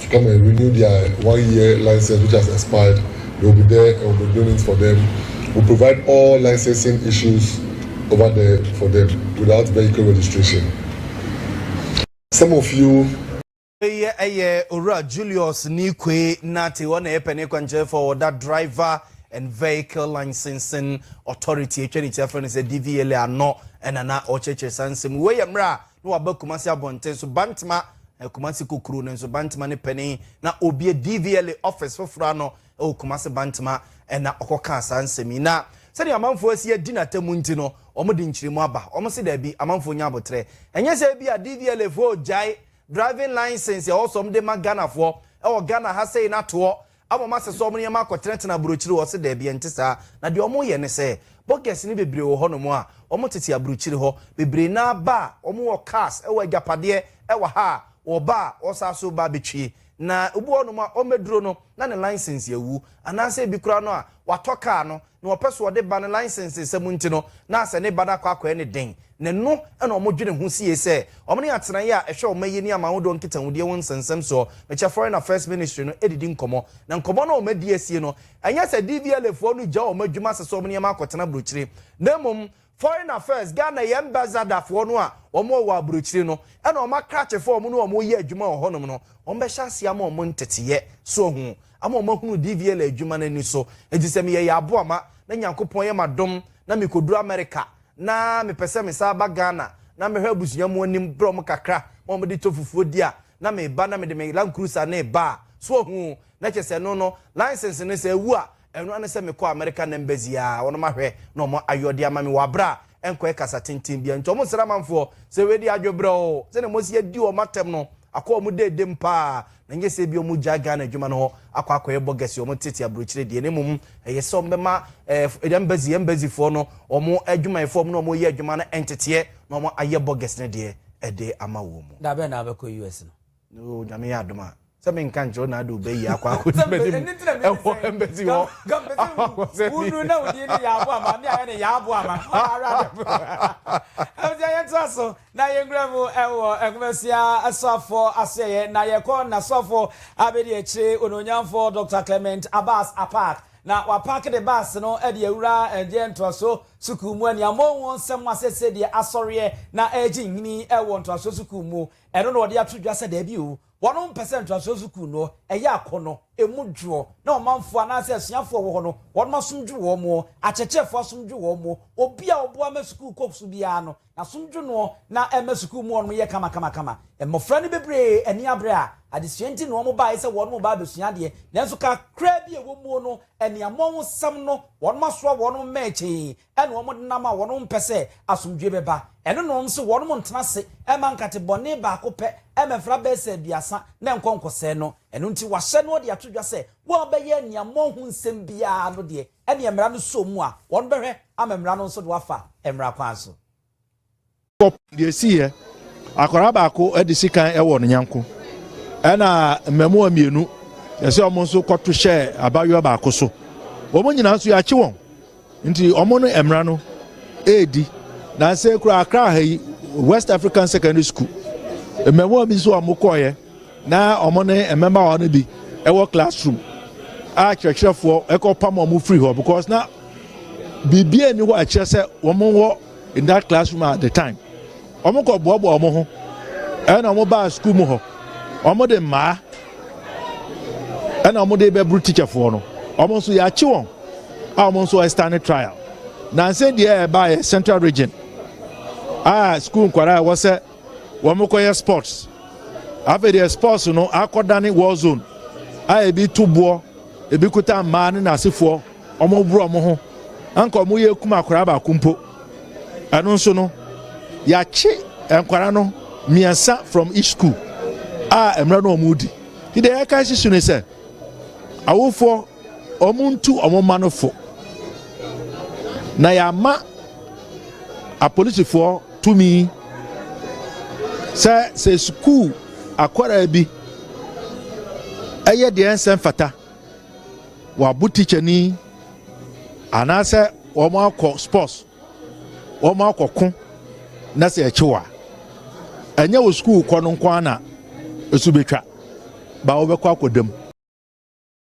to come and renew their one year license which has expired, they will be there and will be doing it for them, we provide all licensing issues over there for them without vehicle registration. Some of you. Wei yɛ Owura Julius Nikwe Nartey, ɔna yɛ pɛne kwankyerɛfoɔ a ɔda Driver and Vehicle Licensing Authority, atwa ne ti afrɛ no sɛ DVLA ano na na ɔkyerɛkyerɛ saa nsɛm. Wei yɛ mmerɛ a na waba Kumasi abɔnten so, Bantama eh, Kumasi Kokuro no nso Bantama ne panin na obie DVLA office foforɔ ano wɔ Kumasi Bantama eh, na ɔkɔkaa saa nsɛm yi na sɛdeɛ amanfoɔ asi adi n'atamu nti no wɔn de nkyerɛmu aba wɔn se daabi amanfoɔ nya abotrɛ ɛnyɛ sɛ bi a DVLA foɔ gyae driving license ɛwɔ sɛ wɔn de ma Ghanafoɔ ɛwɔ Ghana ha sei n'atoɔ Ama ɔmo asesa ɔmo nneɛma akɔtenatena aburokyire hɔ? Ɔse daabi, ɛnte saa. Na deɛ ɔmo yɛ ne sɛ, bogus no bebree wɔ hɔ nom a, ɔmo tete aburokyire hɔ. Bebree no ara ba a, ɔmo wɔ cars, ɛwɔ agyapadeɛ, ɛwɔ ha a, ɔba a, ɔsan so ba betwie. Na obi wɔ hɔ nom a, ɔmmɛduro no, na ne license awu. Anaasɛ ebi koraa no a, watɔ car no, na ɔpɛ so ɔde ba no license nsɛm nti no na asɛ ne ba no akɔ akɔɛ ne den na ɛno na ɔmo dwene ho sie sɛ ɔmo ne atenaeɛ a ɛhwɛ ɔma yi ne amahodoɔ nkitahudie ho nsɛnsɛm soɔ mekyɛ foreign affairs ministry no ɛdidi nkɔmɔ na nkɔmɔ no a ɔmo adi asie no ɛnyɛ sɛ DVLA foɔ no gya ɔmo adwuma sesɛ ɔmo nneɛma akɔtena brokyire na mmom Foreign Affairs, Ghana yɛ Ambassador foɔ no a wɔn wɔ wɔ abrokyire no ɛna wɔn akrakye foɔ a wɔn ne wɔn yɛ adwuma wɔ hɔ nom no wɔn bɛhyɛ aseɛ ama wɔn nteteɛ so ahu ama wɔn ahunu DVLA adwuma no ani so enti sɛ meyɛ yɛ aboa ma na Nyankopɔn yɛ m'adom na me kɔduru America na me pɛ sɛ me san ba Ghana na mɛhwɛ abusua mu anim brɛ wɔn kakra ma wɔn de tɔ fufuo di a na me ba na me de me Land Cruiser no reba a so ahu na kyɛ sɛ ɛno no license no sɛ ɛwu a Ɛno ara ne sɛ mekɔɔ American Embassy a wɔnom ahwɛ na wɔn ayɔ de ama me wɔ aberɛ a ɛnkɔɛ kasa tenten biara nti wɔn nsra amanfoɔ sɛ wei deɛ adwebrɛ oo sɛdeɛ wɔasi adi wɔn atɛm no akɔ wɔn dedem paa na nyɛ sɛ ebia wɔgyae Ghana adwuma no hɔ akɔ akɔyɛ bɔgɛse wɔn tete aburokyire deɛ na mmom ɛyɛ sɛ wɔn bɛma eh, embassy embassyfoɔ no wɔn adwumayɛfoɔ wɔn na wɔn yɛ adwuma no nteteɛ na wɔn ayɛ bɔgɛse no deɛ ɛde ama wɔn mu. Da bɛn na wobɛkɔ US no? No nyame yɛ adom a sɛ me nka nkyerɛ na ade obɛ yi akɔ akɔ di mani mu ɛwɔ ɛmbɛsi hɔ akɔ sɛ ni wunu na wudie ne yɛ abo ama mi ayɛ ne yɛ abo ama ɔna ara adɛ po ɛmti ayɛ ntra so na yɛ ngura mu ɛwɔ ɛnkumasia asoafo asoɛyɛ na yɛ kɔ na soafo abɛdi akyire ɔna onyamfo Dr. Clement Abbas Apaak na wapaak de baase no ɛde awura ɛndiɛ ntoasoɔ sukuu mu ɛniamɔ wɔn nsɛm asɛsɛ deɛ asɔreɛ na ɛgye nhini ɛwɔ ntoasoɔ sukuu mu Ɛno na wɔde ato dwa sɛ daabi o, wɔnom mpɛ sɛ ntoasoɔ sukuu no, ɛyɛ akɔnɔ, ɛmu dwoɔ, na ɔmanfoɔ anaasɛ asuafoɔ a wɔwɔ hɔ no, wɔnom asom dwo wɔn o, akyerɛkyerɛfoɔ asom dwo wɔn o, obi a ɔboa ma sukuu kɔ so biara no, n'asom dwo noɔ, na ɛma sukuu mu hɔnom yɛ kamakamakama. Mmɔfra no bebree ani abre a adesua nti na wɔn baeɛ sɛ wɔnom reba abɛsua adeɛ, nanso kakraa bi a ɛwɔ muo no, aniammɔnhosɛm no, wɔnom asoa wɔnom mmɛɛkyee, ɛna wɔn denam a wɔnom mpɛ sɛ asomdwoe bɛba, ɛno na wɔnom se wɔnom ntena ase mma nkate bɔne baako pɛ mmɛfra bɛɛsa aduasa na ɛnkɔ nkɔsɛe no, ɛno nti wɔahyɛ na wɔde ato dwa sɛ wɔn a bɛyɛ aniammɔn ho nsɛm biara no deɛ ɛneɛ mmara no sɔɔ mu a wɔnom bɛhwɛ ama mmara no nso de wɔafa mmara kwan so. Deɛ ɛsiiɛ, Akwadaa baako de sikan wɔ ne nyɛnko ɛna mmɛmoa mmienu ɛsɛ wɔn nso kɔto hyɛ abayewa baako so. Wɔn nyinaa nso yɛakye wɔn nti wɔn no mmara no ɛredi. Nansɛ kura akra ha yi West African Secondary School mmɛmoa bi nso a wɔkɔɔeɛ Na wɔn ne mmabaawa no bi wɔ classroom a kyerɛkyerɛfoɔ ɛkɔ pam wɔn firi hɔ because na biribiara nni hɔ a ɛkyerɛ sɛ wɔn wɔ in that classroom at the time wɔn kɔ boaboa wɔn ho ɛna wɔn baa sukuu mu hɔ wɔn de mmaa ɛna wɔn de bɛburu teacherfoɔ no wɔn nso yɛakye wɔn a wɔn nso ɛstane trial nansa deɛ ɛbaeɛ central region a sukuu nkwadaa a wɔsɛ Wɔn kɔyɛ sports afei deɛ sports no akɔ dane war zone a ebi to boɔ ebi kuta mmaa ne n'asefoɔ wɔn borɔ wɔn ho anka wɔn yɛ kum akwaraa baako mpo ɛno nso no yɛakye nkwaraa no mmiɛnsa from each school a mmerɛ no wɔn di ti deɛ yɛka sisi ne sɛ awofoɔ. Wɔntu wɔn mma no fo. Na yɛama apolisifoɔ tumi sɛ sɛ sukuu akwadaa bi ɛyɛ deɛ ɛnsɛ mfata, wɔabo tikyani anaasɛ wɔn akɔ sports, wɔn akɔ ko na sɛ ɛkyew a, ɛnyɛ wɔ sukuu kɔ no nko ara na ɛso bɛtwa, ba wɔbɛkɔ akɔdam.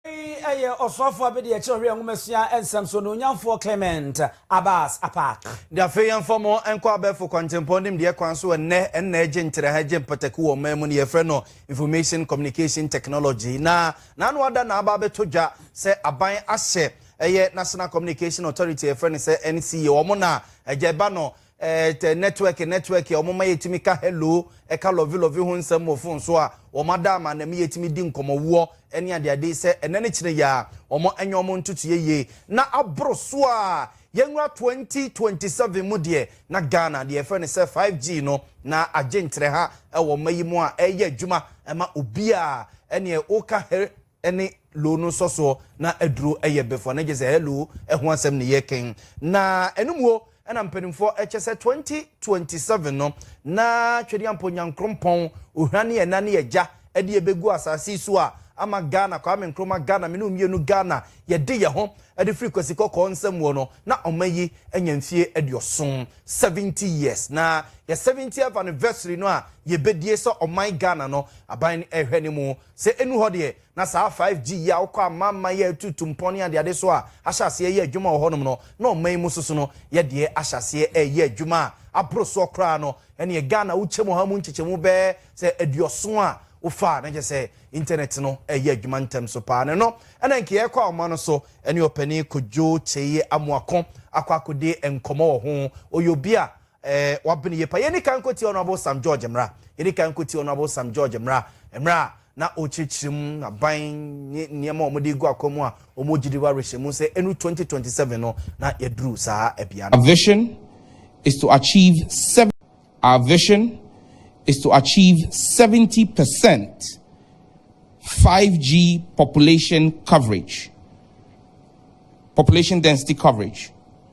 Eyi yɛ ɔsoafoɔ bi deɛ kyerɛwhia nwomasua nsɛm so, Onuonyamfoɔ Clement Abbas Apaak. De afei yɛmfa mo nkɔ abɛɛfo kwantempɔn nimdeɛ kwan so ɛnnɛ ɛnna ɛgye ntraha ɛgye mpataku wɔ ɔman mu no yɛfrɛ no Information Communication Technology na n'ano ada na aba abɛtɔ dwa sɛ aban ahyɛ ɛyɛ National Communication Authority a yɛfrɛ no sɛ NCA wɔn na agya ɛba no Eh, tɛ network network a wɔma yɛtumi ka hello, ɛka lɔve lɔve ho nsɛm wɔ fon so a, wɔn ada ama na ɛma yɛtumi di nkɔmmɔwoɔ ne adeade sɛ ɛnɛ ne kyerɛ yi a, wɔn anya wɔn ntotoeɛ yie. Na aboro so a, yɛnwura 2027 mu deɛ, na Ghana deɛ yɛfrɛ no sɛ 5G no, na agye nkyerɛha wɔ mma yi mu a ɛreyɛ adwuma ma obiara. Ɛneɛ woka he, ne lo no nsɔsoɔ na aduro yɛ befua na gye sɛ hello ho asɛm ne yɛ ken na ɛno muo ɛna mpanimfoɔ ɛkyɛ sɛ 2027 no na twediampo nyankrompɔn ohira ne ɛna ne agya ɛde ɛbɛgu asase so a ama Ghana kwame nkroma Ghana mene omienu Ghana yɛde yɛ ho ɛde firi kwasi kɔkɔɔ nsam muo no na ɔma yi anya mfie aduoson 70 years na yɛ 70th anniversary no a yɛbɛdie sɛ ɔman Ghana no aban ɛhwɛ ne mu Sɛ ɛnu hɔ deɛ, na saa 5G yi a wokɔ amamman yi a ɛtutu mpɔn ne adeade so a ahyɛ aseɛ reyɛ adwuma wɔ hɔnom no, na ɔman yi mu soso no yɛ deɛ ahyɛ aseɛ reyɛ adwuma a aboro soɔ koraa no. Ɛnneɛ Ghana wokyɛm ɔha mu nkyekyɛmu bɛyɛ sɛ aduɔson a wofa a na kyerɛ sɛ intanɛt no reyɛ adwuma ntɛm so pa ara. Na ɛno na nka yɛrekɔ ahoma no so ne Ɔpanin Kojo Kyei Amoako akɔ akɔdi nkɔmmɔ wɔ ho. Ɔyɛ obi a Ɛɛ, wabene yie pa. Yɛnni kan nkɔtie Honourable Sam George mmra. Yɛnni kan nkɔtie Honourable Sam George mmra, mmerɛ a na ɔrekyerɛkyerɛ mu aban ne nneɛma a wɔde regu akwan mu a wɔgye di wɔ awerɛhyɛmu sɛ ɛnuru 2027 no na yɛaduru saa ɛbea no. Our vision is to achieve sev Our vision is to achieve 70 percent 5G population coverage, population density coverage.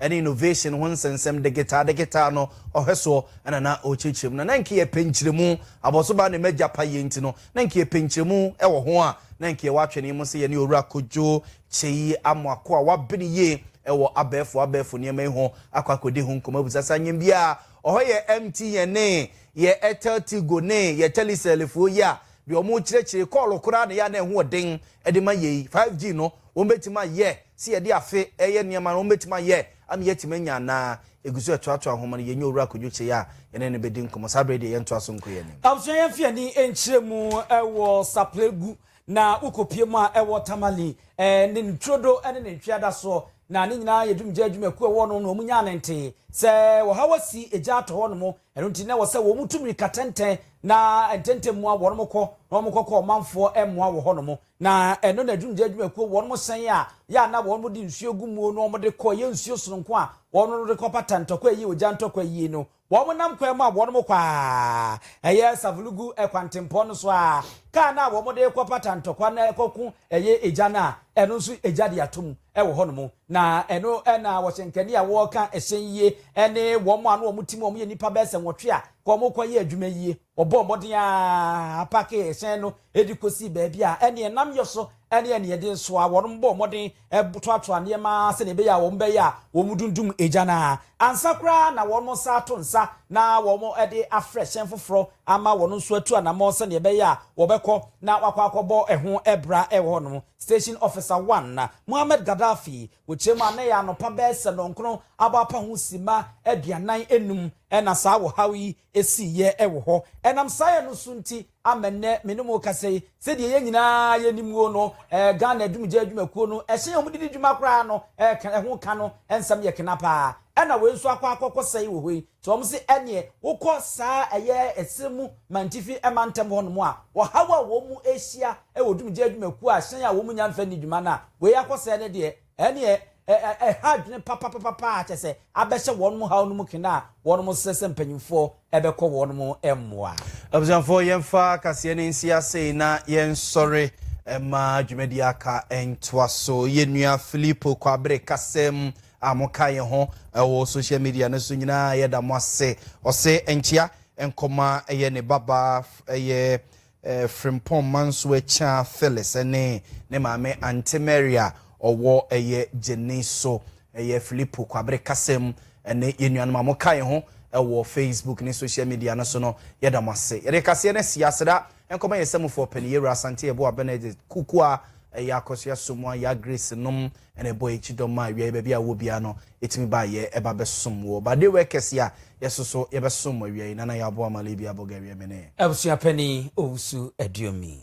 ne innovation ho nsɛnsɛm degetaa degetaa no ɔhwɛ soɔ na na ɔrekyerɛkyerɛ mu. Na na nka yɛpɛ nkyerɛmu, abɔsobaa ne m'agya payie nti no, na nka yɛpɛ nkyerɛmu wɔ ho a na nka yɛwɔ atwene mu sɛ yɛne Owura Kojo Kyei Amoako a wabene yie wɔ abɛɛfo abɛɛfo nneɛma yi ho akɔ akɔdi ho nkɔmmɔ abisa saa nyɛm bi a ɔhɔ yɛ MT yɛn ne yɛ Airtel Tigo ne yɛ Telecel foɔ yi a deɛ wɔrekyerɛkyerɛ kɔɔlo koraa na ɛyɛ a na ɛho ɔden de ma yei 5G no wɔbɛtumi ayɛ sɛ yɛde afe reyɛ nneɛma no, wɔbɛtumi ayɛ ama yɛatumi anya anaa? Ɛgu so ɛtoatoa nhoma no, yɛnyɛ Owura Kojo Kyei a yɛne no bɛdi nkɔmmɔ. Saa berɛ yi deɛ yɛntoa so nkɔ yɛn anim. Abusua yɛn fi ani nkyerɛ mu wɔ Saplegu na wokɔ pie mu a ɛwɔ Tamale ne ne turodo ne ne ntweada soɔ na ne nyinaa yɛ dumgya adwumakuo ɛwɔ no na wɔn nyaa ne ntee sɛ ɔhaw asi egya atɔ hɔ nom ɛno nti na ɛwɔ sɛ wɔn tu mirika tɛntɛn na ntɛntɛn mu a wɔn kɔ na wɔn kɔkɔ ɔmanfoɔ mmoa wɔ hɔ nom Na ɛno na adwumgya adwumakuo wɔn mo sɛn a yɛ a na wɔn mo de nsuo gu muo no wɔn mo de kɔ yɛ nsuo sononko a wɔn mo de kɔ pata ntɔkwa yie ogya ntɔkwa yie no wɔn mo nam kwan mu a wɔn mo kɔ a ɛyɛ Savulugu ɛkwantempɔn no so a kaa no a wɔn mo de kɔ pata ntɔkwa no ɛkɔ ko ɛyɛ egya no a ɛno nso egya de ato mu ɛwɔ hɔ nom na ɛno ɛna wɔhyɛ nkani a wɔka ɛhyɛn yie ɛne wɔn mo ano wɔn mo ti mu wɔn yɛ nipa bɛsɛ nwɔtwe a wɔn mo kɔ yɛ adwuma yie. Wɔbɔɔ mmɔden ara pakee hyɛn no de kosii baabi a ɛnneɛ nam yɔ so ne ɛnneɛ de nso a wɔn bɔɔ mmɔden toatoaa nneɛma sɛdeɛ ɛbɛyɛ a wɔn bɛyɛ a wɔn dundum gya no ara ansa koraa na wɔn nsa ato nsa na wɔn de afrɛ hyɛn foforɔ ama wɔn nso atu anamɔ sɛdeɛ ɛbɛyɛ a wɔbɛkɔ na wakɔ akɔbɔ ɛho bra ɛwɔ hɔ nom station officer one na Muhammad Gaddafi wɔkyerɛ mu anɛ yɛ anɔpa bɛɛ sɛ nɔnkron abɔ apa ho sima aduanan enum ɛna saa wɔ haw yi sii yɛ wɔ hɔ. Ɛnam saa yɛ no so nti ama nnɛ me ne mo rekasa yi. Sɛdeɛ yɛn nyinaa yɛnim o no, Ghana Adumgya Adwumakuo no, ɛhyɛn a wɔde di dwuma koraa no, ɛka, ɛho ka no nsɛm yɛ kena pa ara. Ɛna wei nso akɔ akɔkɔsɛe wɔ hɔ yi. Nti wɔn se ɛneɛ wokɔ saa ɛyɛ Ɛserɛ mu Mantifi mantam hɔ nom a, ɔhaw a wɔn rehyia wɔ Dumgya Adwumakuo a hyɛn a wɔn nnya mfa nni dwuma no a, wei akɔsɛe no deɛ, Ɛnneɛ, ɛ, ɛ, ɛha adwene papapapa a kyerɛ sɛ abɛhyɛ wɔnom haw no mu kena a wɔnom srɛ sɛ mpanyimfoɔ bɛkɔ wɔnom mmoa. Abusuafoɔ, yɛmfa kaseɛ no nsi asei na yɛnsɔre mma dwumadie aka ntoa so. Yɛn nua Filipo Kwabere kasɛm a mokaa yɛn ho wɔ social media no so nyinaa, yɛda mo ase. Ɔse, Nkyea nkɔma yɛ ne babaa, ɛyɛ Frimpong Mansoakyia Phyllis ne ne maame Ante Mary a ɔwɔ ɛyɛ Gyenee so, ɛyɛ Filipo Kwabere kasa mu, ne yɛn nuanom a moka yɛn ho wɔ Facebook ne social media no so no, yɛda mo ase. Yɛde kaseɛ no asi ase na nkɔma yɛn samufoɔ panin, Yɛwura Asante Yeboah Benedict Kukuah, ɛyɛ Akɔsua Somoa, Yaa Grace nom, ɛna ɛbɔ yɛn kyidɔm ma wiaeɛ baabi a wowɔ biara no ɛtumi ba yɛ ɛba bɛsom woɔ but dewɛ kɛseɛ a yɛsoso yɛbɛsom wɔ wiaeɛ nana yɛaboa ma Libya Bulgaria me ne abusua panin Owusu Aduomi.